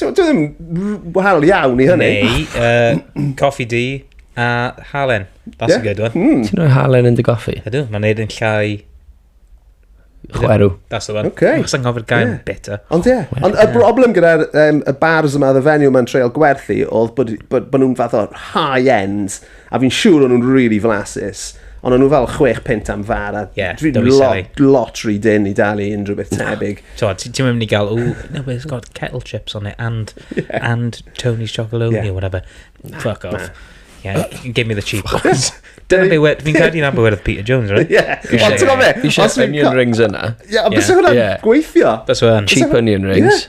Dwi ddim wahanol iawn i hynny. Neu, uh, coffi di a halen. That's yeah. a good one. Mm. Ti'n rhoi halen yn dy goffi? Ydw, mae'n neud yn llai... Chwerw. That's the one. Okay. Mae'n sy'n goffi'r gael yeah. bitter. Ond ie. Yeah. Ond y broblem gyda'r um, y bars yma, y venue yma'n treol gwerthu, oedd bod, bod, bod nhw'n fath o high-end A fi'n siŵr o'n nhw'n rili really flasus. Ond o'n nhw fel chwech punt am far, a yeah, dwi'n lot, lot rhy dyn i dalu unrhyw beth tebyg. No. Ti'n mynd i gael, oh, no, it's got kettle chips on it, and, yeah. and Tony's chocolate yeah. or whatever. Nah, Fuck off. Nah. Yeah, give me the cheap ones. Dyna be wedi, fi'n credu na be wedi Peter Jones, right? Ie. Ond ti'n gofio? Fi eisiau onion rings yna. Ie, ond bys hwnna'n gweithio. Bys hwnna'n. Cheap onion rings.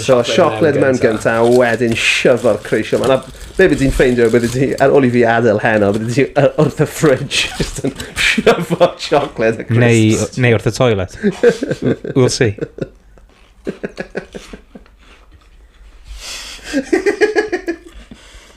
So siocled mewn gynta, a wedyn siwfo'r creisio. Mae yna... Be bydde ti'n ffeindio bydde ti, ar ôl i fi adael heno, bydde ti wrth y fridge, just yn siwfo siocled a crisps. Neu, neu wrth y toilet. we'll see.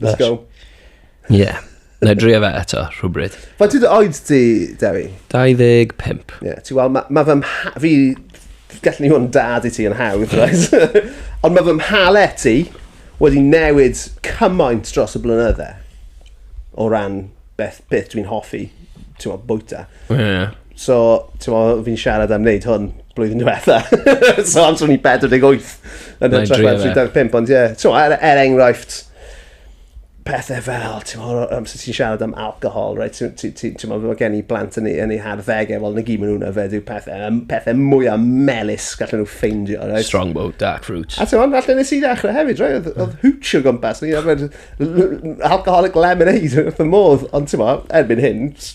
Let's go. Ie. Yeah. Na i drio fe eto, rhywbryd. Fa ti dy oed ti, Dewi? 25. Ie, yeah, ti wel, mae ma fy mha... Fi... Gallwn ni hwn dad i ti yn hawdd, right? Ond mae fy mhale ti wedi newid cymaint dros y blynydde o ran beth, beth dwi'n hoffi, ti'n meddwl, bwyta. Ie. Yeah. So, t'mo' fi'n siarad am wneud hwn blwyddyn diwetha. so amser o'n i 48 yn Mae'n hytrach na dream, ie. 35 ond ie. T'mo' er er enghraifft pethe fel t'mo' o amser ti'n siarad am alcohol reit ti'n ti ti t'mo' ma' gen i blant yn eu yn eu harddege wel 'na gyd ma' nhw'n yfed yw pethe yym pethe mwya melys gallen nhw ffeindio reit? Strongbow, dark fruit. A t'mo' falle nes i ddechre hefyd rei' odd odd hooch o gwmpas o'n i'n yfed l- l- alcoholic lemonade wrth fy modd ond t'mo' erbyn hyn s-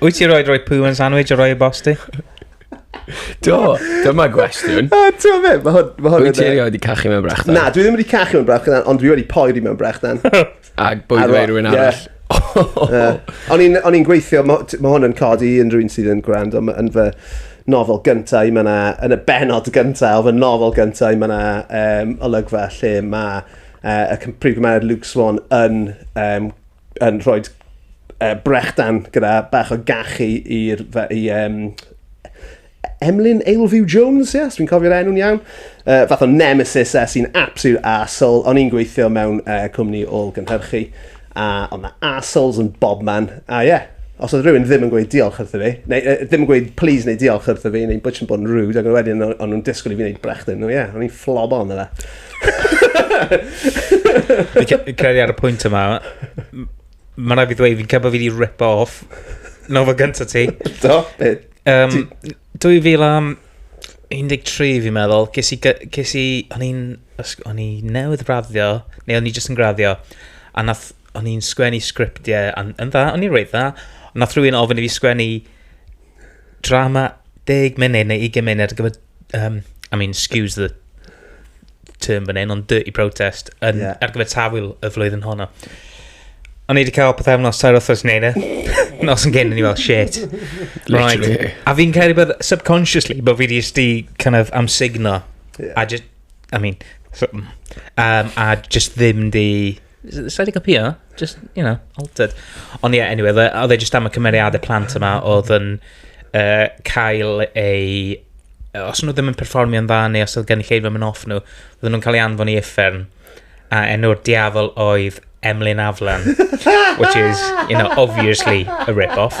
Wyt ti roed roi pŵ yn sandwich a roi y bost i? Do, dyma gwestiwn. A ti'n fe, mae hwn... Mae hwn Wyt ti erioed wedi cachu mewn brechdan? Na, dwi ddim wedi cachu mewn brechdan, ond dwi wedi poeri mewn brechdan. Ac bwyd fe rhywun arall. O'n i'n gweithio, mae hwn yn codi unrhyw un sydd yn gwrando yn fy nofel gyntaf, mae yna, yn y benod gyntaf o fy nofel gyntaf, mae yna um, olygfa lle mae uh, y prif gymeriad Luke Swan yn um, yn rhoi uh, brechdan gyda bach o gachu i'r i, um, Emlyn Ailfew Jones, yes, dwi'n cofio'r enw'n iawn. Uh, fath o nemesis e sy'n absolute asshole. O'n i'n gweithio mewn uh, cwmni ôl gynhyrchu, a o'n na assholes yn bob man. A ie, yeah, os oedd rhywun ddim yn gweud diolch wrtho fi, neu uh, ddim yn gweud please neu diolch wrtho fi, neu bwtch yn bod yn rude, ac wedyn o'n nhw'n disgwyl i fi wneud brechdan. No, ie, yeah, o'n i'n flob on yna. Fi'n credu ar y pwynt yma, mae'n rhaid fi ddweud, fi'n cael bod fi wedi rip off nofel gyntaf ti. Do, beth? Um, 2013 fi'n meddwl, ges i, ges i, o'n i'n, o'n i newydd raddio, neu o'n i jyst yn graddio, a nath, o'n i'n sgwennu sgriptiau, yn, yn dda, o'n i'n rhaid dda, ond nath rhywun ofyn i fi sgwennu drama deg munud neu 20 munud ar gyfer um, I mean, excuse the term fan hyn, ond dirty protest yn, yeah. ar gyfer tafwyl y flwyddyn honno. O'n i wedi cael pethau am nos tair othos neud e. Nos yn gyn, o'n i fel, shit. Right. A fi'n cael ei bod subconsciously, bod fi wedi sti kind of am signo. Yeah. A just, I mean, so, um, a just ddim di Sa'i di copio? Just, you know, altered. Ond ie, yeah, anyway, oedd e just am y cymeriadau plant yma oedd yn uh, cael ei... Os nhw ddim yn perfformio'n dda neu os oedd gen i lleid fy off nhw, oedden nhw'n cael ei anfon i effern. A enw'r diafol oedd Emlyn Aflan, which is, you know, obviously a rip-off.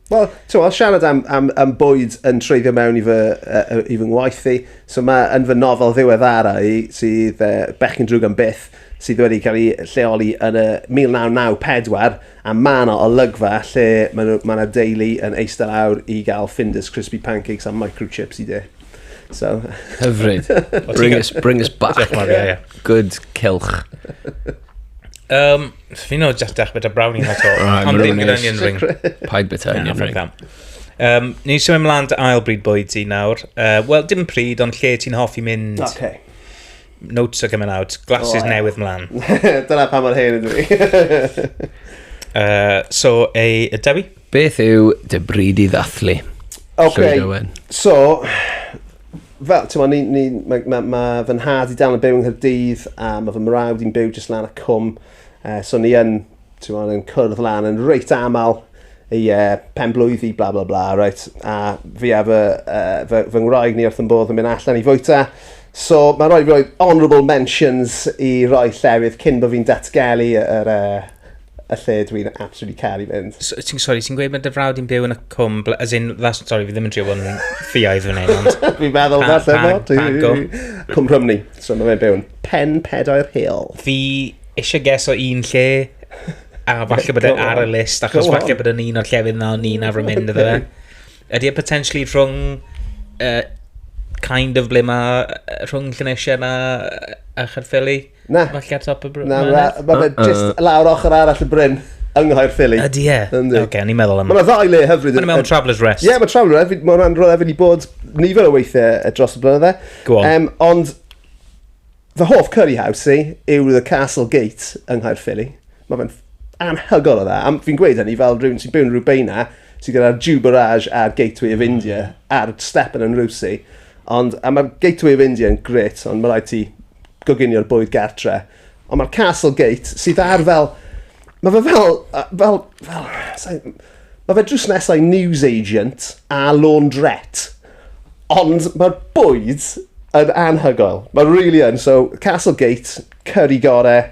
Wel, t'mo', os siarad am am am bwyd yn treiddio mewn i fy yy yy i fy ngwaith i, so ma' yn fy nofel ddiweddara i sydd yy Bechgyn Drwg am Byth sydd wedi ca'l 'i lleoli yn y 1994 a ma' 'na olygfa lle ma' nw ma' 'na deulu yn eiste lawr i ga'l Finders Crispy Pancakes a microchips i de. So. Hyfryd. Bring us bring us back. Diolch yn fawr, ie ie. Good cylch. Yym. Swn i'n just dechrau bit o brownie na to. Right, Ond ddim gyda onion ring. Paid bit o onion ring. Um, ni eisiau mynd mlaen dy ail bryd bwyd ti nawr. Uh, Wel, dim pryd, ond lle ti'n hoffi mynd? Okay. Notes are coming out. Glasses oh, newydd mlaen. Dyna pa mor hen ydw i. uh, so, ei, y Dewi? Beth yw dy bryd i ddathlu? Okay. So, Fel, ti'n ni, ni, mae ma, ma fy nhad i dal yn byw yng Nghyrdydd a mae fy mrawd i'n byw jyst lan y cwm. Uh, so ni yn, ti'n ma, yn cwrdd lan yn reit aml i uh, pen blwyddi, bla bla bla, right? A fi a fy, uh, fy, fy ngwraig ni wrth yn bodd yn mynd allan i fwyta. So mae'n rhoi, rhoi honourable mentions i roi llefydd cyn bod fi'n datgelu yr, uh, y lle dwi yn absolutely caru fynd. So, ti'n, sorry, ti'n gweud mae dy frawd i'n byw yn y cwm, as in, that's, sorry, fi ddim yn trio bod yn ffiaidd fan hyn, ond... Fi'n meddwl Pa- falle pa- bod. pa go? Cwm Rhymni, so mae fe'n byw yn Pen Pedair Hill. Fi eisiau ges o un lle, a falle bod e Go ar y on. list, achos Go on. falle bod yn un o'r llefydd na o'n i'n arfer mynd iddo fe. Ydy e potentially rhwng, uh, kind of ble mae, rhwng Llanesiau na, a Chaerffili? Na. Mae lle ar top y bryn. Na, mae fe just lawr ochr arall y bryn. Yng Nghoer Philly. Ydy e? Yndi. Oce, o'n i'n meddwl am... Mae'n ddau le hyfryd. Mae'n mewn Traveller's Rest. Ie, yeah, mae Traveller's Rest. Mae hwnna'n rhywle fi wedi bod nifer o weithiau dros y blynydde. Go on. Um, ond fy hoff curry house i yw The Castle Gate yng Nghoer Philly. Mae fe'n anhygoel o dda. Am, fi'n gweud hynny fel rhywun sy'n byw yn Rubeina, sy'n gyda'r Jew Barrage a'r Gateway of India yeah. a'r Stepan yn Rwsi. Ond, a mae'r Gateway of India yn gret, ond mae rhaid ti goginio'r bwyd gartre. Ond mae'r Castle Gate, sydd ar fel... Mae fe fel... fel, fel, fel mae fe drws nesau news agent a laundrette. Ond mae'r bwyd yn anhygoel. Mae'n really yn. So, Castle Gate, curry gore,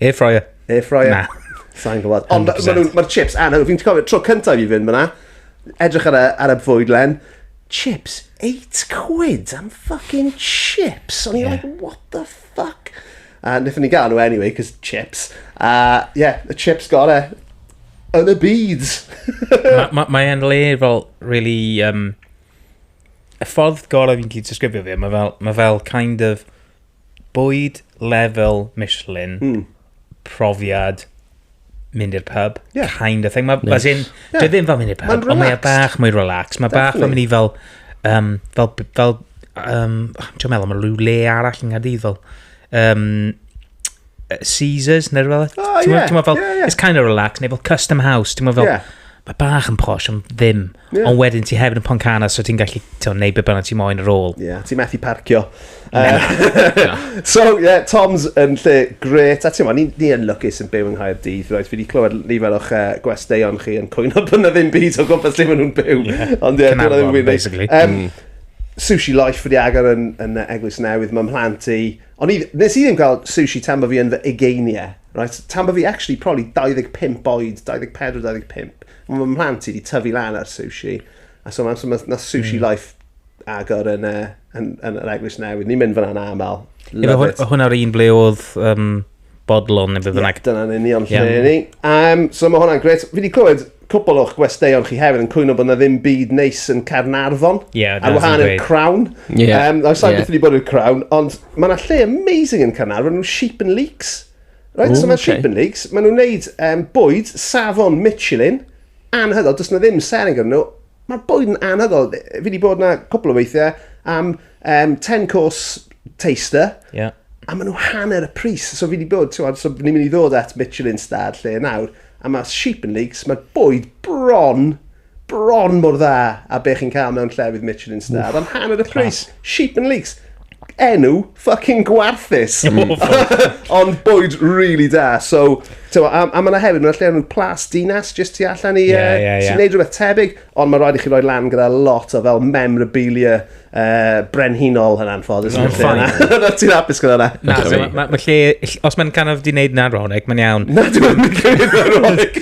Air fryer. Air fryer. Na. Sa'n gwybod. Ond mae'r chips anhyw. Fi'n cofio tro cyntaf i fynd fyna. Edrych ar y, ar y bwyd len. Chips. 8 quid am fucking chips. O'n i'n yeah. like, what the fuck? A nethon ni gael nhw anyway, cos chips. A uh, yeah, y chips gore yn y byd. Mae'n ma, ma le fel really... Um, y ffordd gorau fi'n cyd disgrifio fi, mae fel, ma fel kind of bwyd lefel Michelin, mm. profiad mynd i'r pub, yeah. kind of thing. Mae, yes. as in, yeah. dwi ddim fel mynd i'r pub, ond mae bach mwy relaxed. Mae bach fel mynd i fel, um, fel, fel, um, dwi'n meddwl, mae rhyw le arall yn Nghaerdydd fel, um, Caesars neu rhywbeth. Oh, ti'n yeah, fel, yeah, yeah. it's kind of relaxed, neu fel custom house, ti'n fel, yeah. mae bach yn posh, ond ddim. Yeah. Ond wedyn ti hefyd yn Poncana, so ti'n gallu ti'n neud beth bynnag ti moyn ar ôl. Ie, yeah, ti'n methu parcio. Uh, so, ie, yeah, Tom's yn lle gret. A ti'n mo, ni, ni yn lwcus yn byw yng Nghaer Dydd, roedd fi wedi clywed nifer o'ch uh, gwesteion chi yn cwyno bod yna ddim byd o gwmpas lle maen nhw'n byw. Yeah. Ond ie, yeah, dwi'n ddim yn gwybod. Um, mm. Sushi Life wedi agor yn, yn Eglwys Newydd, mae'n mhlant i, O'n i, nes i ddim gweld sushi tan bo fi yn fy ugeiniau, right? Tan bo fi actually probably 25 oed, 24, 25. Mae fy mhlant i wedi tyfu lan ar sushi. A so mae'n so mae na sushi mm. life agor yn, uh, yn, yn, yn yr eglwys newydd. Ni'n mynd fyna'n aml. Love it. Hwna'r un ble oedd um, bodlon neu beth bynnag. Ie, dyna'n union lle yeah. ni. Um, so mae hwnna'n gret. Fi wedi clywed cwbl o'ch gwesteion chi hefyd yn cwyno bod yna ddim byd neis yn Caernarfon. Yeah, ar wahan i'r Crown. Yeah. Um, I've yeah. wedi bod i'r Crown, ond mae yna lle amazing yn Caernarfon, nhw'n Sheep and Leaks. Right, Ooh, so mae okay. Sheep and Leaks, maen nhw'n neud um, bwyd, safon Michelin, anhygoel, does na ddim sering yn nhw. Mae'r bwyd yn anhygoel. Fi wedi bod yna cwbl o weithiau am um, Um, 10 course taster. Yeah. A maen nhw hanner y pris. So fi wedi bod, ti'n so ni'n mynd i ddod at Michelin Stad lle nawr. A mae Sheep and Leaks, mae bwyd bron, bron mor dda a be chi'n cael mewn llefydd Michelin Stad. Am hanner y pris. Sheep and Leaks enw fucking gwarthus. Ond bwyd really da. So, a, a mae yna hefyd, mae'n lle nhw plas dinas, jyst tu allan i... Yeah, yeah, yeah. Ti'n neud rhywbeth tebyg. Ond mae'n rhaid i chi roi lan gyda lot o fel memorabilia uh, brenhinol yn anffodus. Mae'n ffain. Na, ti'n hapus gyda na? Na, so, mae ma, ma lle, os mae'n kind of di wneud na'n ronig, mae'n iawn. Na, dwi'n mynd i wneud na'n ronig.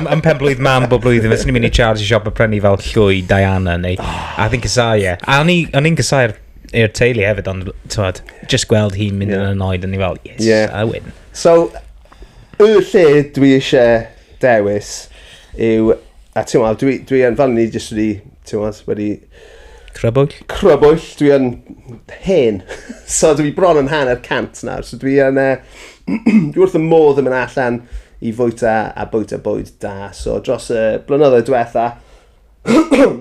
Yn pen blwydd mam bob blwyddyn, fes ni'n mynd i Charles i siop a prynu fel llwy Diana neu... Oh. A ddyn cysau, ie. A o'n i'n cysau'r i'r teulu hefyd, ond tywed, just gweld hi'n mynd yn anoed, o'n i fel, yes, yeah. I win. So, y lle dwi eisiau dewis yw, a ti'n meddwl, dwi, dwi yn, fel ni jyst wedi, ti'n meddwl, wedi... Crybwyll? Crybwyll, dwi yn hen. so dwi bron yn hanner cant nawr, so dwi yn, uh, dwi wrth y modd yn mynd allan i fwyta a bwyta bwyd da. So dros y blynyddoedd diwetha,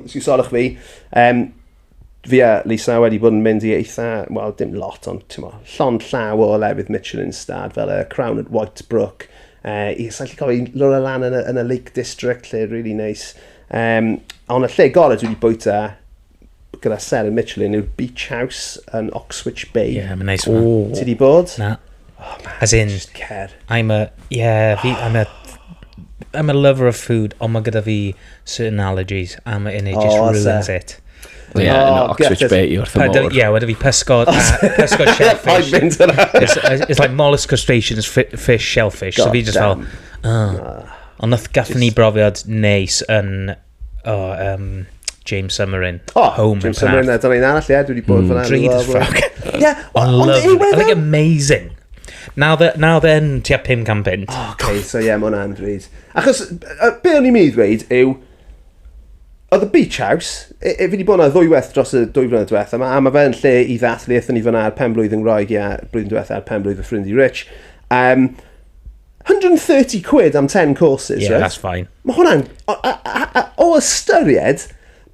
os yw solwch fi, um, fi a Lisa wedi bod yn mynd i eitha, wel dim lot ond ti'n mo, llond llaw o lefydd Michelin stad fel y Crown at Whitebrook, uh, i sa'n lle cofio, lwra lan yn y, yn y Lake District lle really nice. Um, ond y lle gorau dwi wedi bwyta gyda ser yn Michelin yw'r Beach House yn Oxwich Bay. Ie, yeah, mae'n neis. Ti wedi bod? Na. Oh man, As in, just cer. I'm a... Yeah, fi... I'm a... I'm a lover of food, ond mae gyda fi certain allergies, and it oh, just ruins oes e. it. Ie, yeah, oh, no, Oxford Bay i wrth y môr. Ie, wedi fi pysgod, pysgod shellfish. it's, it's like mollusk crustaceans, fish, shellfish. God so fi just fel, oh. Ond nath gathon ni brofiad neis yn O, oh, um, James Summerin. Oh, Home James Summerin, a dyna un arall, ie, dwi wedi bod fyna. Drud as fuck. Ie, ond yw e... Like amazing. Now that, now then, tua 500 punt. Oh, okay, so ie, yeah, mae'n anfryd. Achos, uh, be o'n i'n mynd i ddweud yw, Oedd y Beach House, e, e, fi wedi bod yna ddwywaith dros y dwy flynedd diwethaf, a mae fe'n lle i ddathlu, eithon ni fyna ar pen blwydd yn Roeg, ia, blwyddyn diwethaf ar pen blwydd fy ffrind i Rich. Um, 130 quid am 10 courses, yeah, right? that's fine. Mae hwnna'n... O ystyried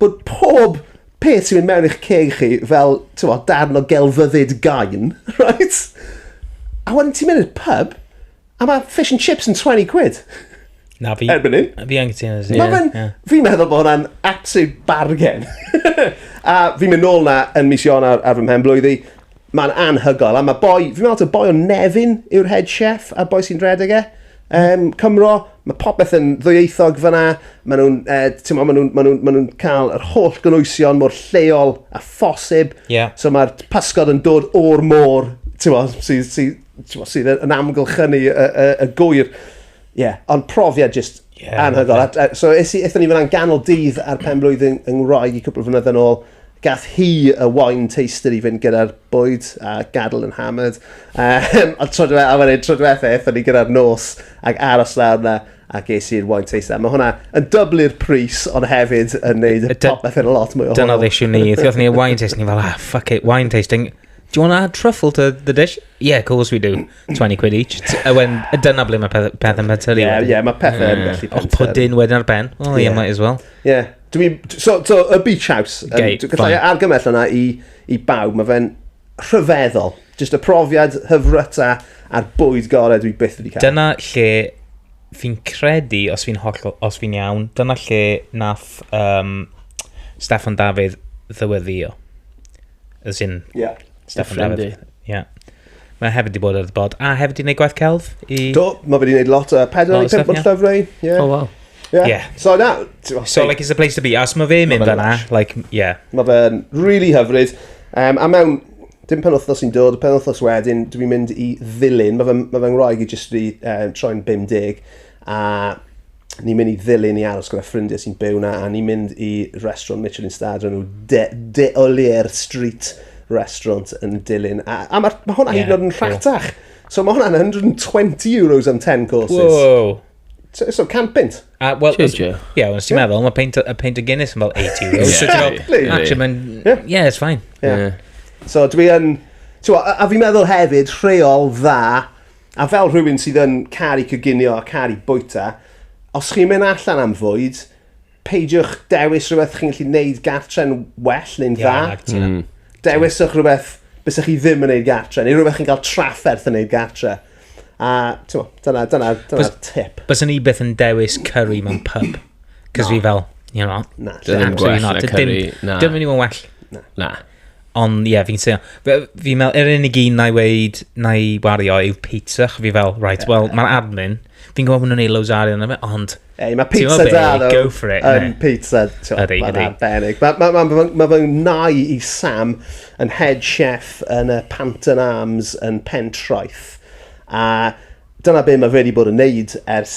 bod pob peth sy'n mynd mewn i'ch ceg chi fel, ti'n fawr, darn o gelfyddyd gain, right? A wedyn ti'n mynd i'r pub, a mae fish and chips yn 20 quid. Na, fi... Erbyn un. Fi yn cytuno. Mae fe'n... Fi'n meddwl bod hwnna'n absolute bargain. a fi'n mynd nôl na yn mis Ionar ar fy mhen blwyddi. Mae'n anhygoel, a mae boi, fi'n meddwl taw boi o Nefyn yw'r head chef a'r boi sy'n rhedeg e. Um, Cymro, mae popeth yn ddwyieithog fyna, maen nhw'n uh, ma nhw, ma nhw, ma nhw cael yr holl gynwysion mor lleol a phosib. Yeah. So mae'r pysgod yn dod o'r môr, sydd sy, sy, sy yn amgylchynu y, y, y gwyr. Ie, yeah. ond profiad jyst yeah, anhygoel. Okay. So eithon ni fyna'n ganol dydd ar pen blwyddyn yng Ngwraig i cwpl o flynyddoedd yn ôl, Gath hi y wine taster i fynd gyda'r bwyd, a gadael yn hammered. Um, ond tro diwethaf, a wedyn tro diwethaf, eithon ni gyda'r nos, ac aros lawr na, a ges i'r wine taster. Mae hwnna yn dyblu'r pris, ond hefyd yn neud y popeth yn lot mwy o hwyl. Dyna oedd eisiau ni. Dioth ni wine taster, ni fel, ah, fuck it, wine tasting. Do you want to add truffle to the dish? Yeah, of course we do. 20 quid each. A wedyn, dyna ble mae pethau peth yn pentyrru. Ie, yeah, yeah, mae pethau yn gallu pentyrru. Os pwdyn wedyn ar ben. Oh, yeah, yeah, might as well. Yeah. Dwi'n... So, so, y beach house. Gay, um, Gallai argymell yna i, i bawb. Mae fe'n rhyfeddol. Just y profiad hyfryta a'r bwyd gorau dwi byth wedi cael. Dyna lle fi'n credu, os fi'n holl, os fi'n iawn, dyna lle nath um, Stefan Dafydd ddyweddio. As in, yeah. Stefan Dafydd. Yeah. Mae hefyd wedi bod ar y bod. A hefyd wedi gwneud gwaith celf i... Do, mae wedi gwneud lot o uh, pedal i pimp o'n llyfrau. Yeah. Oh, wow. Yeah. yeah. So na... So, like, it's a place to be. Os mae fe mynd yna, like, yeah. Mae fe'n really hyfryd. Um, a mewn dim pen wythnos sy'n dod, pen wythnos wedyn, dwi'n mynd i ddilyn, mae fy, ma fy ngwraig i jyst wedi uh, troi'n 50, a ni'n mynd i ddilyn i aros gyda ffrindiau sy'n byw na, a ni'n mynd i restaurant Michelin Star, dyn nhw De, De Olier Street Restaurant yn dilyn. A, a mae ma hwnna yeah, hyd yn oed yn rhatach. Cool. So mae hwnna'n 120 euros am 10 courses. Wow. So, so can pint. A, well, Ie, yeah, yeah, ti'n meddwl, mae peint, a peint o Guinness yn fel 80 euros. yeah, so, exactly. Actually, mae'n... Yeah. yeah, it's fine. Yeah. yeah. So dwi yn... A, a fi'n meddwl hefyd, rheol dda A fel rhywun sydd yn caru coginio a caru bwyta, os chi'n mynd allan am fwyd, peidiwch dewis rhywbeth chi'n gallu neud gartre'n well neu'n dda. Yeah, like mm. Dewiswch rhywbeth bys chi ddim yn neud gartre, neu rhywbeth chi'n cael trafferth yn neud gartre. A tyma, dyna, dyna, dyna tip. Bys ni beth yn dewis curry mewn pub. Cys no. fi fel, you know, na, dim gwell na curry. Dim yn i'n well. Na. na. Ond ie, fi'n seio. Fi'n meddwl, yr unig un na i weid, na i wario yw pizza. Fi fel, right, well, mae'n admin. Fi'n gwybod bod nhw'n ei loads o arian yma, ond... Ei, mae pizza da, ddo. Go for it. Um, pizza, ti'n ydy, ydy. Mae'n arbennig. Mae ma, ma, ma, ma fy nai i Sam yn head chef yn y Panton Arms yn Pentraeth. A dyna be mae wedi bod yn neud ers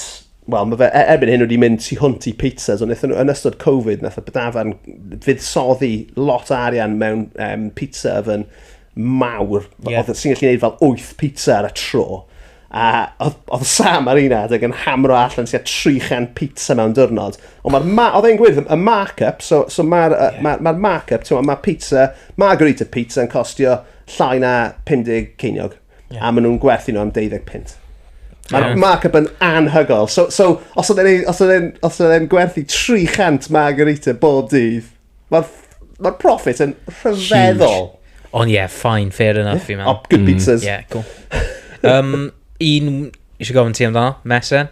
wel ma' fe e- erbyn hyn wedi mynd tu hwnt i pizzas ond nethon n'w yn ystod covid nath y b- dafarn fuddsoddi lot o arian mewn yym pizza oven mawr f- Ie. odd yn sy'n gallu neud fel wyth pizza ar y tro a odd odd Sam ar un adeg yn hamero allan tua 300 pizza mewn diwrnod ond ma'r ma- odd e'n gweud y mark-up so so ma'r yy ma' ma'r mark-up t'mo' ma' pizza margherita pizza yn costio llai na pum deg ceiniog. Yeah. A maen nhw'n gwerthu nhw am 20 pint. Mae'r yeah. markup yn anhygol. So, so os oedd e'n gwerthu 300 margarita bob dydd, mae'r ma profit yn rhyfeddol. Ond ie, yeah, fine, fair enough, yeah. fi'n meddwl. Oh, good mm. pizzas. Mm. Yeah, cool. um, un, eisiau gofyn ti amdano, Mesen?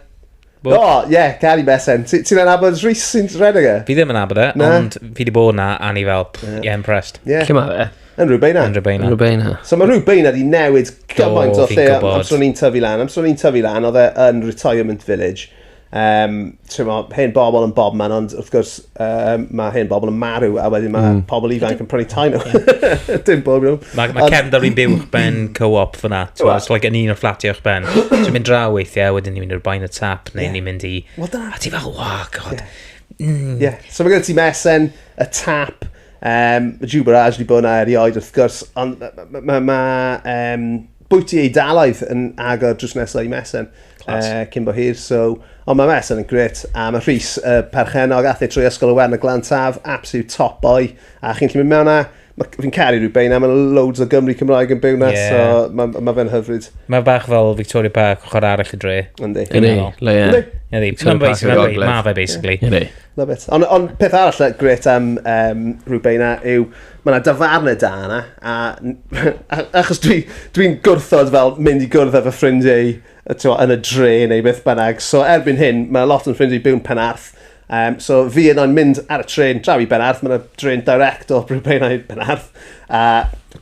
Bo- O, ie, yeah, Cari Besen. Ti- Ti'n anabod Rhys sy'n rhedeg e? Fi ddim yn abod e, Na. ond fi di bod na, a ni fel, pff, Ie. yeah, impressed. Ie, Lle mae fe? yn rhywbeth yna. Yn rhywbeth yna. Rhywbeth yna. So mae rhyw beina di newid gymaint o fi'n lle gwbod. amser o'n i'n tyfu lan. Amser o'n i'n tyfu lan, oedd e yn retirement village. Um, Ti'n mo, hen bobl yn bob man, ond wrth gwrs, Um, mae hen bobl yn marw a wedyn mae mm. pobl ifanc yn prynu tai nhw. Dim bob nhw. Mae ma cefn da fi'n byw uwch ben co-op fyna. It's like yn un o'r fflatiau uwch ben. Ti'n mynd draw weithiau, wedyn ni'n mynd i'r bain y tap, neu yeah. ni'n mynd i... Well, dyna... A ti fel, oh, god. Yeah. Mm. yeah. So mae gen ti mesen, y tap, um, y jubarage di bod yna erioed wrth gwrs, ond mae... Ma, ma, ma, um, bwyty Eidalaidd yn agor drws nesaf i Mesen. Clas. Uh, cyn bo hir, so... Ond mae Mesen yn gret, a mae Rhys y uh, perchenog athe trwy ysgol y wern y glan taf, absolute top boy, a chi'n gallu mynd mewn a... Fi'n caru rhyw beina, mae loads o Gymru Cymraeg yn byw na, yeah. so mae ma fe'n hyfryd. Mae bach fel Victoria Park, ochr arall y dre. Yndi. Yndi, le ie. Yndi, mae fe basically. Yndi. Love it. Ond on, peth arall gret am um, rhyw beina yw, ma' 'na dafarne da yna a n- a achos dwi dwi'n gwrthod fel mynd i gwrdd â fy ffrindie i yy t'mo' yn y dre neu beth bynnag so erbyn hyn ma' lot o fy ffrindie i byw'n Penarth yym so fi yno'n mynd ar y trên draw i Benarth ma' 'na drên direct o Prydain i Penarth a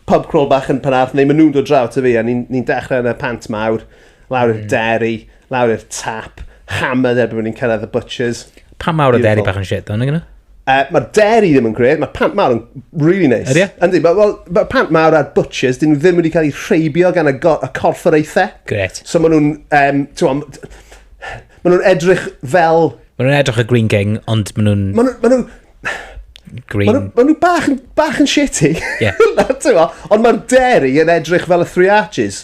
pub crawl bach yn Penarth neu ma' nw'n dod draw ato fi a ni'n ni'n dechre yn y Pant Mawr lawr i'r dairy Lawr i'r tap, hammered erbyn bod ni'n cyrraedd y butchers. Pan mawr y deri bach yn shit, ond yna? Uh, mae'r deri ddim yn gred, mae pant mawr yn really nice. Ydy? E? Yndi, mae well, ma pant mawr a'r butchers, dyn nhw ddim wedi cael eu rheibio gan y, y corfforaethau. Gret. So maen nhw'n, um, ti'n maen nhw'n edrych fel... Maen nhw'n edrych y Green King, ond maen nhw'n... Maen nhw'n... Nhw, Green. Maen nhw, ma nhw bach, bach yn shitty. Yeah. ond mae'r deri yn edrych fel y Three Arches.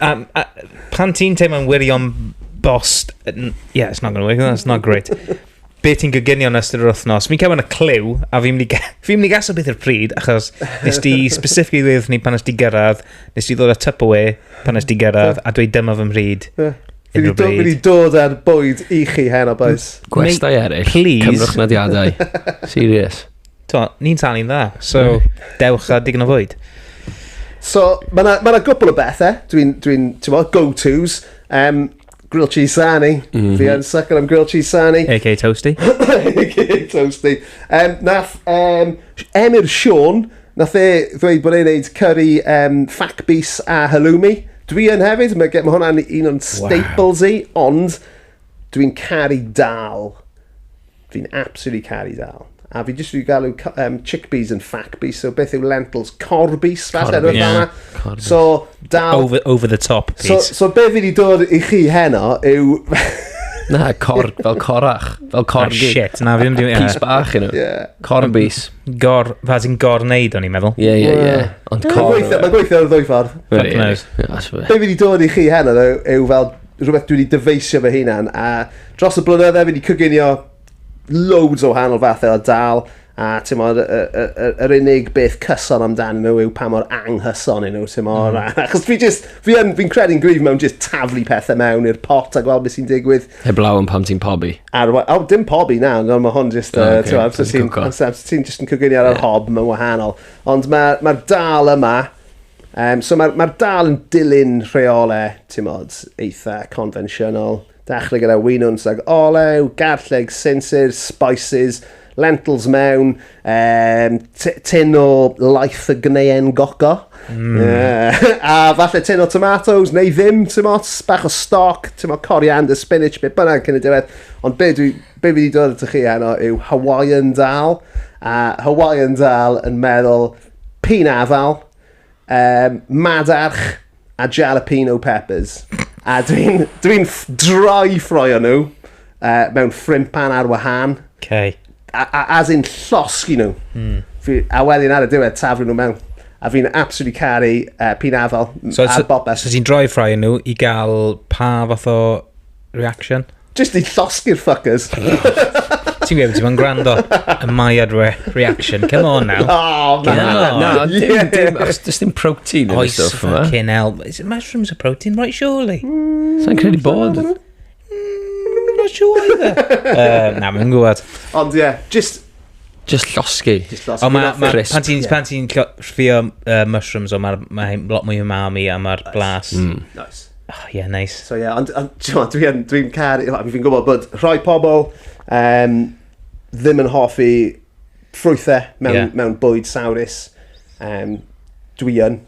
A, a, pan ti'n teimlo'n wirion bost... Yeah, it's not going to work, that's not great. Be ti'n gyginio yn ystod yr wythnos? Fi'n cael yn y clyw, a fi'n mynd i, fi mynd i gasio beth i'r pryd, achos nes di specifically ddweud ni pan nes di gyrraedd, nes di ddod â typ away pan nes di gyrraedd, a dweud dyma fy mhryd. Yeah. Fi wedi dod ar bwyd i chi hen o boes. Gwestau eraill, cymrwch nodiadau. Serious. to, ni'n talu'n dda, so dewch a digon o fwyd. So, mae yna ma gwbl o bethau, dwi'n, dwi ti'n mo, go-tos. Um, grilled cheese sarnie. Mm -hmm. Fi yn sucker am grilled cheese sarnie. A.K. Toasty. A.K. Toasty. Um, nath um, Emyr Sean, nath e ddweud bod e'n neud curry um, fac bus a halloumi. Dwi yn hefyd, mae ma hwnna'n un o'n staples wow. i, ond dwi'n caru dal Fi'n absolutely caru dal. A fi jyst wedi galw um, chickpeas yn fackpeas, so beth yw lentils? Corbis, falle, Corbis, rhywbeth yeah. Corbis. So, dal... Over, over the top, Pete. So, so be fi wedi dod i chi heno yw... Na, cor, fel corach, fel corgi. Ah, shit, na, fi ddim wedi... Pys bach, you know. Yeah. Corbis. Gor, fas i'n gor neud o'n i'n meddwl. Ie, ie, ie. Ond cor... Mae'n gweithio ar y ddwy ffordd. Fuck knows. Be fi wedi dod i chi heno yw fel rhywbeth dwi wedi dyfeisio fy hunan a Dros y blynydde fi wedi cyginio loads o wahanol fathau o dal a ti'n modd, yr unig beth cyson amdan nhw yw pa mor anghyson yn nhw, ti'n modd. Mm. Mm-hmm. Achos fi just, fi yn, fi'n credu'n gryf mewn just taflu pethau mewn i'r pot a gweld beth sy'n digwydd. Heblaw yn pam ti'n pobi. Ar, o, oh, dim pobi na, no, mae hwn just, oh, okay. ti'n amser ti'n, amser ti'n just yn cyginio ar yr hob, mae'n wahanol. Ond mae'r ma dal yma, um, so mae'r ma dal yn dilyn rheolau, ti'n modd, eitha convensiynol. Dechrau gyda winwns sag olew, garlleg, sinsir, spices, lentils mewn, um, tin o laeth y gneuen goco, mm. uh, a falle tin o tomatoes neu ddim, ti'n mots, bach o stoc, ti'n mo coriander, spinach, beth bynnag cyn y diwedd. Ond be, dwi, be fi wedi dod at chi heno yw Hawaiian dal, a Hawaiian dal yn meddwl pyn afal, um, madarch a jalapeno peppers. A dwi'n dwi droi ffroio nhw uh, mewn ffrimpan ar wahân. Okay. A, a, as in llosgi nhw. Mm. Fi, a wedyn ar y diwedd taflu nhw mewn. A fi'n absolutely caru uh, pin afal so, a so, bobeth. So ti'n droi ffroio nhw i gael pa fath o Reaction? Just i llosgi'r fuckers. Ti'n gwybod, ti'n gwrando y mae ar re reaction. Come on now. Oh, man. Come on. Na, na, dim, dim, achos does dim protein yn y Oes, stwff yma. fucking hell. Is it mushrooms a protein? Right, surely. Sa'n credu bod. Mm, not sure either. uh, na, mae'n gwybod. Ond ie, yeah, just Just llosgi. Just llosgi. Ond mae, ma, pan ti'n yeah. pan ti'n ffio uh, mushrooms, o mae'r ma lot mwy umami a mae'r nice. blas. Mm. Nice. Oh, yeah, nice. So, yeah, ond on, dwi'n dwi car, fi'n gwybod bod rhoi pobl um, ddim yn hoffi ffrwythau mewn, yeah. mewn bwyd sawrus. Um, dwi yn,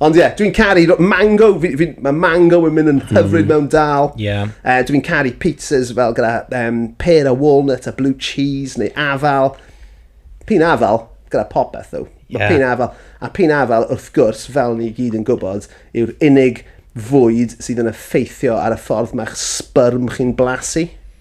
Ond ie, dwi'n caru ro- mango, fi, fi, mae mango yn mynd yn hmm. hyfryd mewn dal. Ie. Uh, dwi'n caru pizzas fel gyda um, pear a walnut a blue cheese neu afal. Pyn afal gyda popeth ddo. Mae yeah. pyn afal. A pyn afal, wrth gwrs, fel ni gyd yn gwybod, yw'r unig fwyd sydd yn effeithio ar y ffordd mae'ch sbyrm chi'n blasu.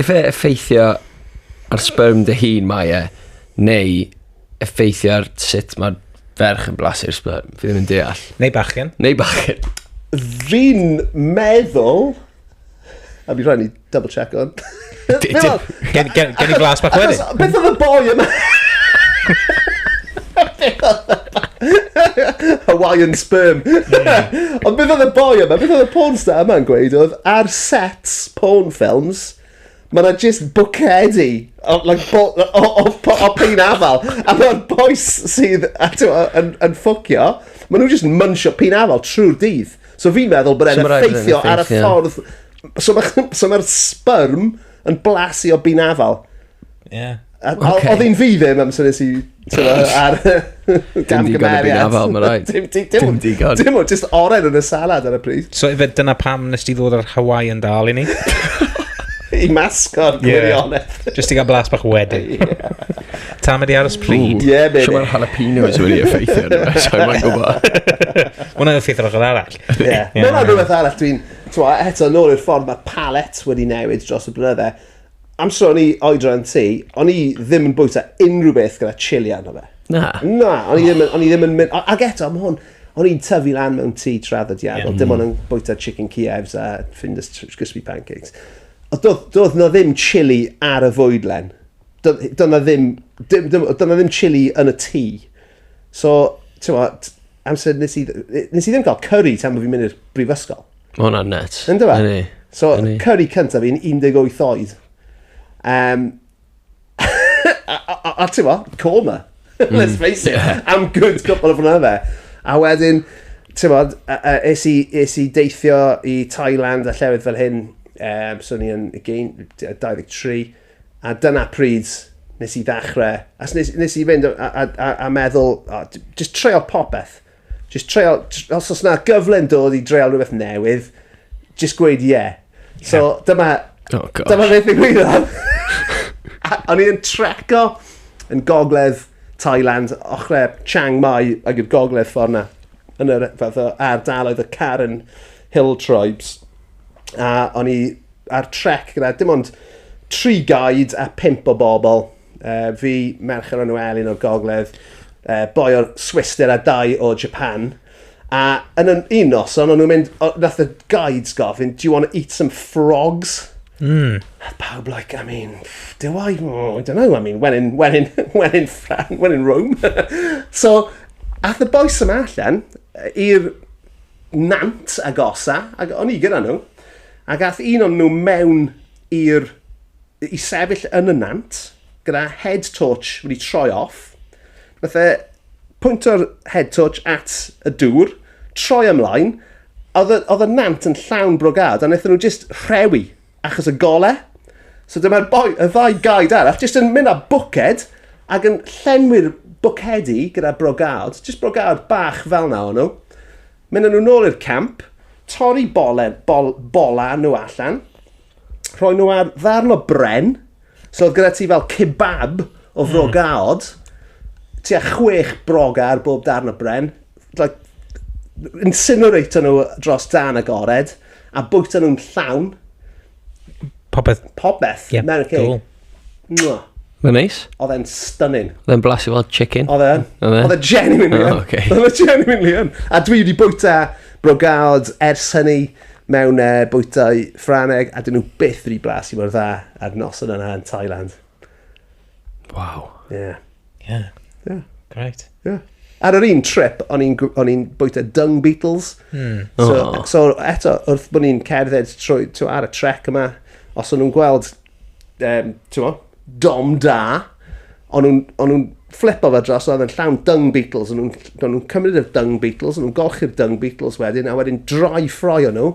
Ife effeithio ar sperm dy hun mae e, neu effeithio ar sut mae ferch yn blasu'r sperm? Fi ddim yn deall. Neu bachgen. Neu bachgen. Fi'n meddwl... A mi rhaid ni double check on. Gen i glas bach wedyn. Beth oedd y boi yma? Hawaiian sperm. Ond beth oedd y boi yma, beth oedd y porn star yma'n gweud oedd ar sets porn films, mae yna just bwcedi o, like, bo, o, o, o, o pein afal. A mae'r boys sydd a, t'mo, yn, yn ffwcio, maen nhw just munsio pein afal trwy'r dydd. So fi'n meddwl bod e'n So ma' raid bod e'n effeithio ar y effeithio. ffordd... So mae'r so ma sperm yn blasu o bein afal. Ie. A- o- Oce. Odd un fi ddim am synies i t'mo' ar Dim digon o byn afal, ma' raid. Dim di- dim Dim digon. Dim ond jyst oren yn y salad ar y pryd. So ife dyna pam nes ti ddod o'r Hawaii yn dal i ni? I masgo'r Ie. gwirionedd. Jyst i gael blas bach wedyn. Ta mae di aros pryd. Ie, baby. So mae'r jalapenos wedi effeithio arno fe, so mae'n gwybod. Hwna'n effeithio'r ochr arall. Ie. Ie. Mae'n rhywbeth arall dwi'n... T'mo, eto, nôl i'r ffordd mae'r palet wedi newid dros y blynydde. Amser o'n i oedran ti, o'n i ddim yn bwyta unrhyw beth gyda chili arno fe. Na? Na, o'n i ddim yn, o'n i ddim yn mynd, a- ag eto, mae hwn, o'n i'n tyfu lan mewn tŷ traddodiadol, dim ond yn bwyta chicken Kievs a Findus tr- crispy pancakes. Ond doedd, doedd na ddim chili ar y fwydlen. Doedd, doedd na ddim, dim, dim, doedd na ddim chili yn y tŷ. So, ti'n gwbod, amser nes i, nes i ddim cael curry tan bod fi'n mynd i'r brifysgol. Mae hwnna'n net. Yn dyfa? Yni. So, Yni. curry cyntaf fi'n 18 oed. Um, a, a, a, a ti'n mo, coma. Mm. Let's face it. Yeah. Am good couple of hwnna fe. A wedyn, ti'n mo, es i, es i deithio i Thailand a llefydd fel hyn. Um, so ni yn, again, 23. A dyna pryd nes i ddechrau, a nes, nes i fynd a, a, a, a meddwl, oh, just treol popeth. Just treol, os oes yna gyfle'n dod i dreol rhywbeth newydd, just gweud ie. Yeah. So yeah. dyma, oh, dyma beth i gwyddodd. O'n i'n treco yn gogledd Thailand, ochrau Chiang Mai ag i'r gogledd ffordd na, yn yr fath o ardaloedd y Karen Hill Tribes. A o'n i ar trec gyda dim ond tri guide a pimp o bobl. Uh, fi, merch o'r enw Elin o'r gogledd, uh, boi o'r Swister a dau o Japan. A yn un, un noson, o'n nhw'n mynd, nath y guides gofyn, do you want to eat some frogs? Mm. A pawb like, I mean, do I? Oh, I don't know, I mean, when in, when in, when in, France, when in Rome. so, ath y boes yma allan i'r nant agosa, ac o'n i gyda nhw, Ac ath un o'n nhw mewn i'r... i sefyll yn y nant, gyda head torch wedi troi off. Nath e pwynto'r head torch at y dŵr, troi ymlaen, oedd y, oedd y nant yn llawn brogad, a wnaethon nhw just rhewi achos y gole. So dyma'r boi, y ddau gaid arall, just yn mynd â bwced ac yn llenwi'r bwcedi gyda brogad. Just brogad bach fel na o'n nhw. Mynd â nhw nôl i'r camp, torri bolen, bol, bola nhw allan, rhoi nhw ar ddarn o bren, so oedd gyda ti fel kebab o fro mm. gaod, ti a chwech broga ar bob darn o bren, like, incinerator nhw dros dan agored, a bwyta nhw'n llawn, Popeth. Popeth. Ie. Meron cake. Cool. Mwah. Mae'n neis. Oedd e'n stunning. Oedd e'n blasu fel chicken. Oedd e? Oedd e? Oedd e genuinely yn. Oh, okay. Oedd e genuinely yn. A dwi wedi bwyta brogad ers hynny mewn uh, bwytau ffraneg a dyn nhw byth wedi blasu mor dda ar nos yna yn Thailand. Waw. Ie. Yeah. Ie. Yeah. Ie. Yeah. Great. Ie. Yeah. Ar yr un trip, o'n i'n o'n i'n bwyta Dung Beatles. Mm. So, oh. so eto, wrth bod ni'n cerdded trwy, to, ar y trec yma, os o'n nhw'n gweld, um, mo, dom da, o'n nhw'n flipo fe dros, oedd yn llawn Dung Beatles, o'n nhw'n nhw cymryd y Dung Beatles, o'n nhw'n golchi'r Dung Beatles wedyn, a wedyn droi ffroi o'n nhw,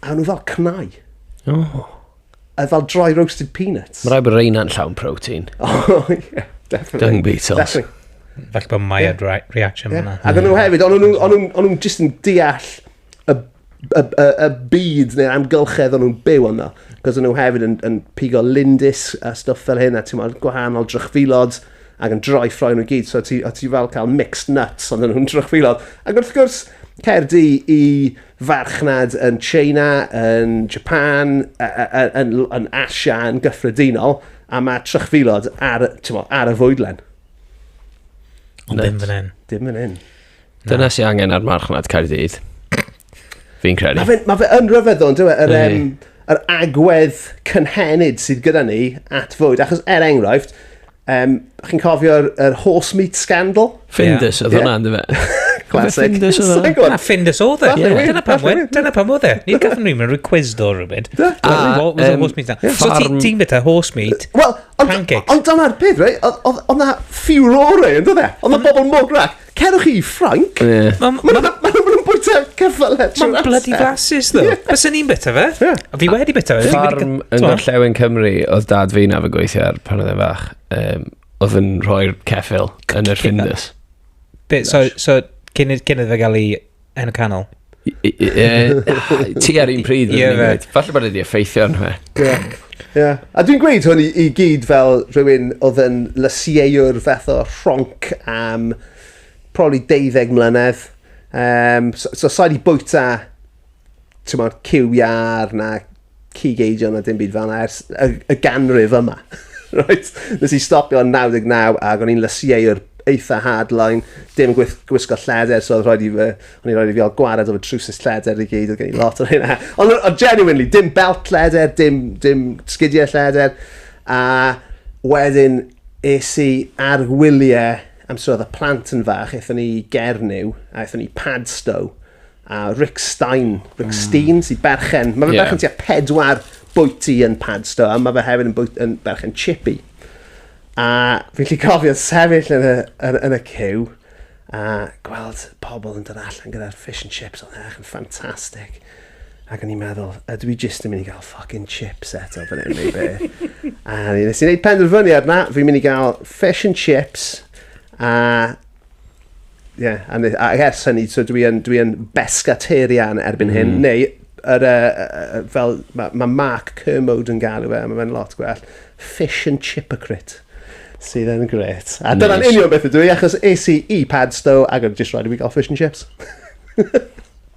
a o'n nhw fel cnau. Oh. Uh, fel dry roasted peanuts. Mae rhaid bod reina'n llawn protein. Oh, yeah, definitely. Dung beetles. Definitely. Felly bod Maya yeah. dry reaction yeah. yna. Ac o'n nhw hefyd, o'n nhw'n just yn deall y, y, y, y byd neu'r amgylchedd o'n nhw'n byw yno. Cos o'n nhw hefyd yn, yn pigo lindis a stuff fel hyn, a ti'n meddwl gwahanol drychfilod ac yn droi ffroen nhw gyd. So ti, ti fel cael mixed nuts ond o'n nhw'n drychfilod. Ac wrth gwrs, Cerdi i farchnad yn Tsieina, yn Japan, yn Asia yn gyffredinol, a mae trychfilod ar, ar y fwydlen. Ond dim fan hyn. Dim fan hyn. Dyna sy'n angen ar marchnad Caerdydd. Fi'n credu. Mae fe, ma fe yn rhyfedd o'n dweud, yr, um, yr agwedd cynhenid sydd gyda ni at fwyd. Achos er enghraifft, Um, chi'n cofio'r er horse meat scandal? Findus oedd hwnna, ynddo fe. Classic. Findus oedd hwnna. Na, Findus oedd e. Dyna pam oedd e. Dyna pam oedd e. Ni gafon ni'n mynd rhoi quiz do rhywbeth. Da. Horse meat. So ti'n bita horse meat, pancakes. Ond dyna'r peth, right? Oedd na furore, ynddo fe? Oedd na bobl mwgrach Cerwch i Ffrainc. Ie. Ma' ma' ma' ma' ma' nhw'n bwyta ceffylau trwy'r Mae'n bloody amser. flasus, ddo. Ie. Bysen ni'n bita fe. Ie. A fi wedi bita fe. Fi wedi Ffarm gy- yn t'mo'? gorllewin Cymru oedd dad fi na fe gweithio ar pan oedd e'n fach. Um, oedd yn rhoi'r ceffil yn yr Findus. Be, so, so cyn, i- cyn iddo fe gael ei Yn y canol. Ti ar un pryd yn ymwneud. Falle bod wedi effeithio yn fe. Ie. A dwi'n gweud hwn i, i gyd fel rhywun oedd yn lysieuwr fath o rhonc am probably deuddeg mlynedd. Um, so, so sa'i wedi bwyta tymod, cyw iar na cig eidion a dim byd fel yna ers y, y ganrif yma. right? Nes i stopio yn 99 ac o'n i'n lysieuwr eitha hardline, dim gwyth, gwisgo lleder, so oedd rhaid i fy, o'n i'n rhaid i fi gael gwared o fy trwsus lleder i gyd, oedd gen i lot o'r hynna. Ond on, genuinely, dim belt lleder, dim, dim sgidiau lleder, a wedyn es i ar wyliau amser oedd y plant yn fach, eithon ni Gernyw, a eithon ni Padstow, a Rick Stein, Rick mm. Stein, sy'n berchen, mae fe yeah. berchen tua pedwar bwyty yn Padstow, a mae fe hefyd yn, bwyt, yn berchen chippy. A fi'n lli cofio sefyll yn y, yn, yn y cyw, a gweld pobl yn dod allan gyda'r fish and chips o'n eich yn ffantastig. Ac o'n i'n meddwl, ydw i jyst yn mynd i gael ffucking chips eto fan hyn neu be. a nes i'n gwneud penderfyniad na, fi'n mynd i gael fish and chips, a Ie, yeah, a, a ers hynny, so dwi yn, dwi yn bescaterian erbyn mm. hyn, mhm. neu yr, uh, uh, fel mae ma Mark Kermode yn galw fe, mae fe'n lot gwell, fish and chipocrit sydd yn gret. A nice. dyna'n union beth ydw i, achos es i i Padstow ac yn just rhaid i fi gael fish and chips.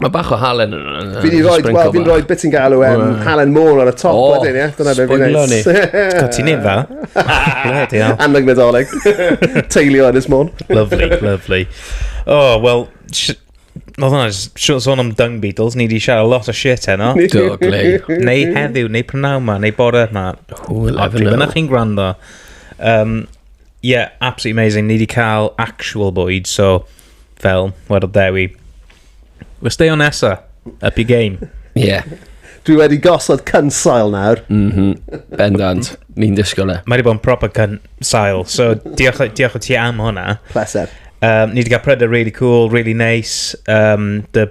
Mae bach o halen yn hwnna. Fi di roed, wel, fi'n roed beth ti'n galw em, halen môl ar y top oh, wedyn, ie? Dyna fe fi'n neud. Sbwylio ni. ti'n ei dda. Bloody hell. Annog nadolig. Teilio yn ysmôn. Lovely, lovely. Oh, well, Oedd hwnna, siwr sôn am Dung Beatles, ni di siarad lot o shit heno. Do, glei. Neu heddiw, neu prynawn ma, neu bore ma. Who will ever know. Dyna chi'n gwrando. Um, yeah, absolutely amazing. Ni di cael actual bwyd, so fel, wedodd Dewi. We're stay on nesa, up your game. Ie. Yeah. Dwi wedi gosod cynsail nawr. Mhm. Mm Bendant. Ni'n disgwyl e. Mae wedi bod yn proper cynsail, so diolch, diolch o ti am hwnna. Pleser. Um, ni wedi cael prydau really cool, really nice. Um, the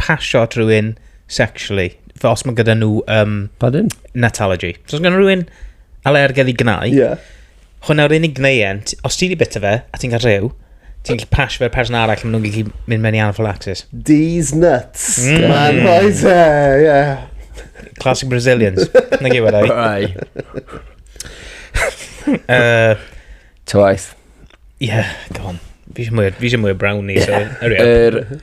pasio at rhywun sexually. Fel os mae gyda nhw... Um, Pardon? Natology. So os gyda rhywun alergedd i gnau, yeah. hwnna yw'r unig gneuent, os ti wedi bita fe, a ti'n cael rhyw, ti'n gallu pasio fe'r person arall, maen nhw'n gallu mynd mewn i anaphylaxis. These nuts. Mm. Man, right there, yeah. Classic Brazilians. Na gyd wedi. Rai. uh, Twice. Yeah, go on. Fi eisiau mwy, fi eisiau mwy o brownie, so, hurry up. Er,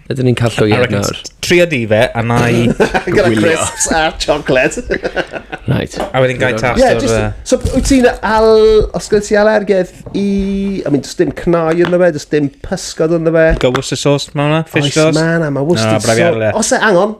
Ydyn ni'n cael llwyed nawr? Trio di fe, a na i... Gyda crisps a chocolate. right. A wedyn gai tas yeah, o'r... Uh... So, wyt ti'n al... Os gyda ti alergedd i... I mean, just dim cnau yn fe, just dim pysgod yn fe. Go Worcester sauce, mae hwnna? Fish sauce? Oes, mae hwnna, mae Worcester sauce. Os e, angon,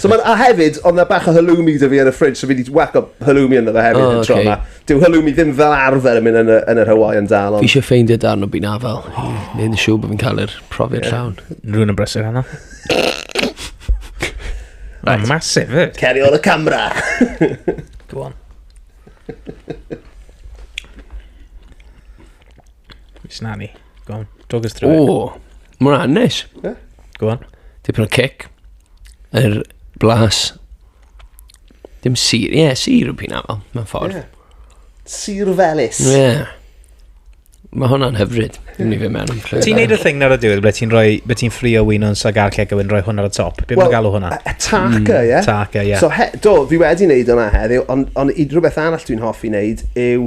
So ma' a hefyd odd 'na bach o halloumi 'da fi yn y fridge so fi 'di whaco halloumi ynddo fe hefyd y tro 'ma. Dyw halloumi ddim fel arfer yn mynd yn y yn yr Hawaiian Dal ond... Fi eisiau ffeindio darn o bun afal i neud yn siŵr bod fi'n cael yr profiad llawn. Rwy'n yn brysur heno. Mae'n masif fyd. Eh? Ceri ôl y camera. Go on. It's na ni. Go on. Talk us through it. O, mae hwnna'n neis. Go on. Tipyn o cic. Yr blas. Dim sir. Ie, yeah, sir yw pyn afel, mewn ffordd. Ie. Sir Felis. Yeah. Mae hwnna'n hyfryd. Dwi'n ni fe mewn yn clywed. Ti'n neud y thing nawr y diwedd, ble ti'n rhoi, ble ti'n ffrio wyn o'n sagar ceg a wedyn rhoi hwn ar y top. Be mae'n galw hwnna? A taca, ie? Taca, ie. So, he, do, fi wedi wneud hwnna heddiw, ond on, i rhywbeth arall dwi'n hoffi wneud yw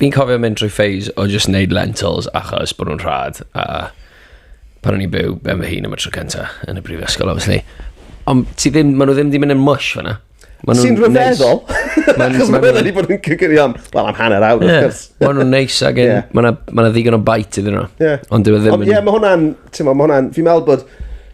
Fi'n cofio mynd drwy phase o just neud lentils achos bod nhw'n rhad a pan o'n i'n byw ben fy hun am y tro cynta yn y brifysgol, obviously. Ond ti ddim, maen nhw ddim wedi mynd yn mush fanna. Sy'n rhyfeddol. Achos maen nhw wedi bod yn cygyrio am, wel, am hanner awr, wrth gwrs. Maen nhw'n neis ac yn, maen nhw ddigon o bait iddyn nhw. Ond dwi e ddim yn... Ie, mae hwnna'n, ti'n ma, mae hwnna'n, fi'n meddwl bod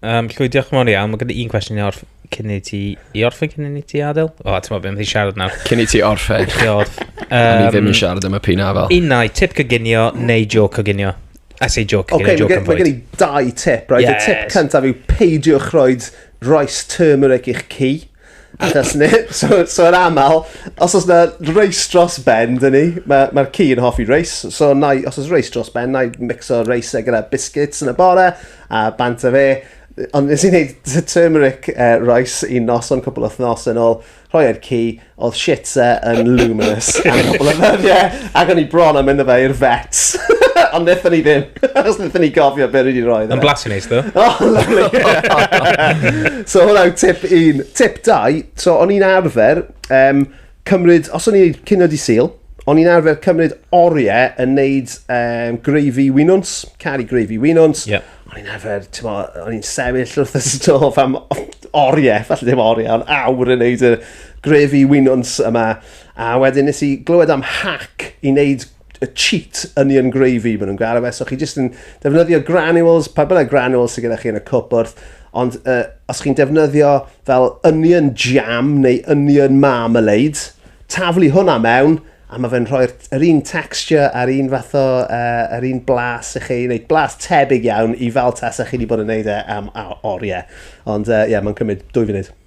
Um, Llwy, diolch yn fawr iawn. Mae gyda un cwestiwn i orff cyn i ti... I orffen cyn i ti adael? O, oh, ti'n meddwl beth i siarad nawr. Cyn i ti orffen. Chi orff. Um, ni ddim yn siarad am y pina fel. Unau, tip coginio neu jo coginio. I say joke again, okay, joke yn fwy. Mae gen i dau tip, right? Yes. Y tip cyntaf yw peidiwch roed rice turmeric i'ch ci. Achos ni, so, so yn aml, os oes na reis dros ben, dyn ni, mae'r ma, ci yn hoffi reis, so na, os oes reis dros ben, na i mixo reis e gyda biscuits yn y bore, a bant o fe. Ond nes i wneud turmeric uh, rice i nos o'n cwbl wythnos yn ôl, rhoi e'r ci, oedd shit e yn luminous am cwbl o ddyddiau, ac o'n i bron am mynd o fe i'r vets. Ond nethon ni ddim. Os nethon ni gofio be ni di roi. Yn blasu neis ddo. Oh, lovely. so hwnna yw tip un. Tip dau, so o'n i'n arfer um, cymryd, os o'n i'n cynod i sil, o'n i'n arfer cymryd oriau yn neud um, greifi winwns, caru greifi winwns. Yeah. O'n i'n arfer, ti'n mo, o'n i'n sefyll wrth y stof am oriau, falle ddim oriau, ond awr yn neud y greifi winwns yma. A wedyn nes i glywed am hack i neud y cheat onion gravy maen nhw'n gael e. So chi jyst yn defnyddio granules, pa bynnag granules sydd gyda chi yn y cwp wrth, ond uh, os chi'n defnyddio fel onion jam neu onion marmalade, taflu hwnna mewn, a mae fe'n rhoi'r er un texture a'r un fath o, uh, er un blas i chi, neu blas tebyg iawn i fel tasa chi wedi bod yn neud e am oriau. Ond ie, uh, yeah, mae'n cymryd dwy funud.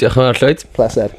Diolch yn fawr, Llwyd. Pleser.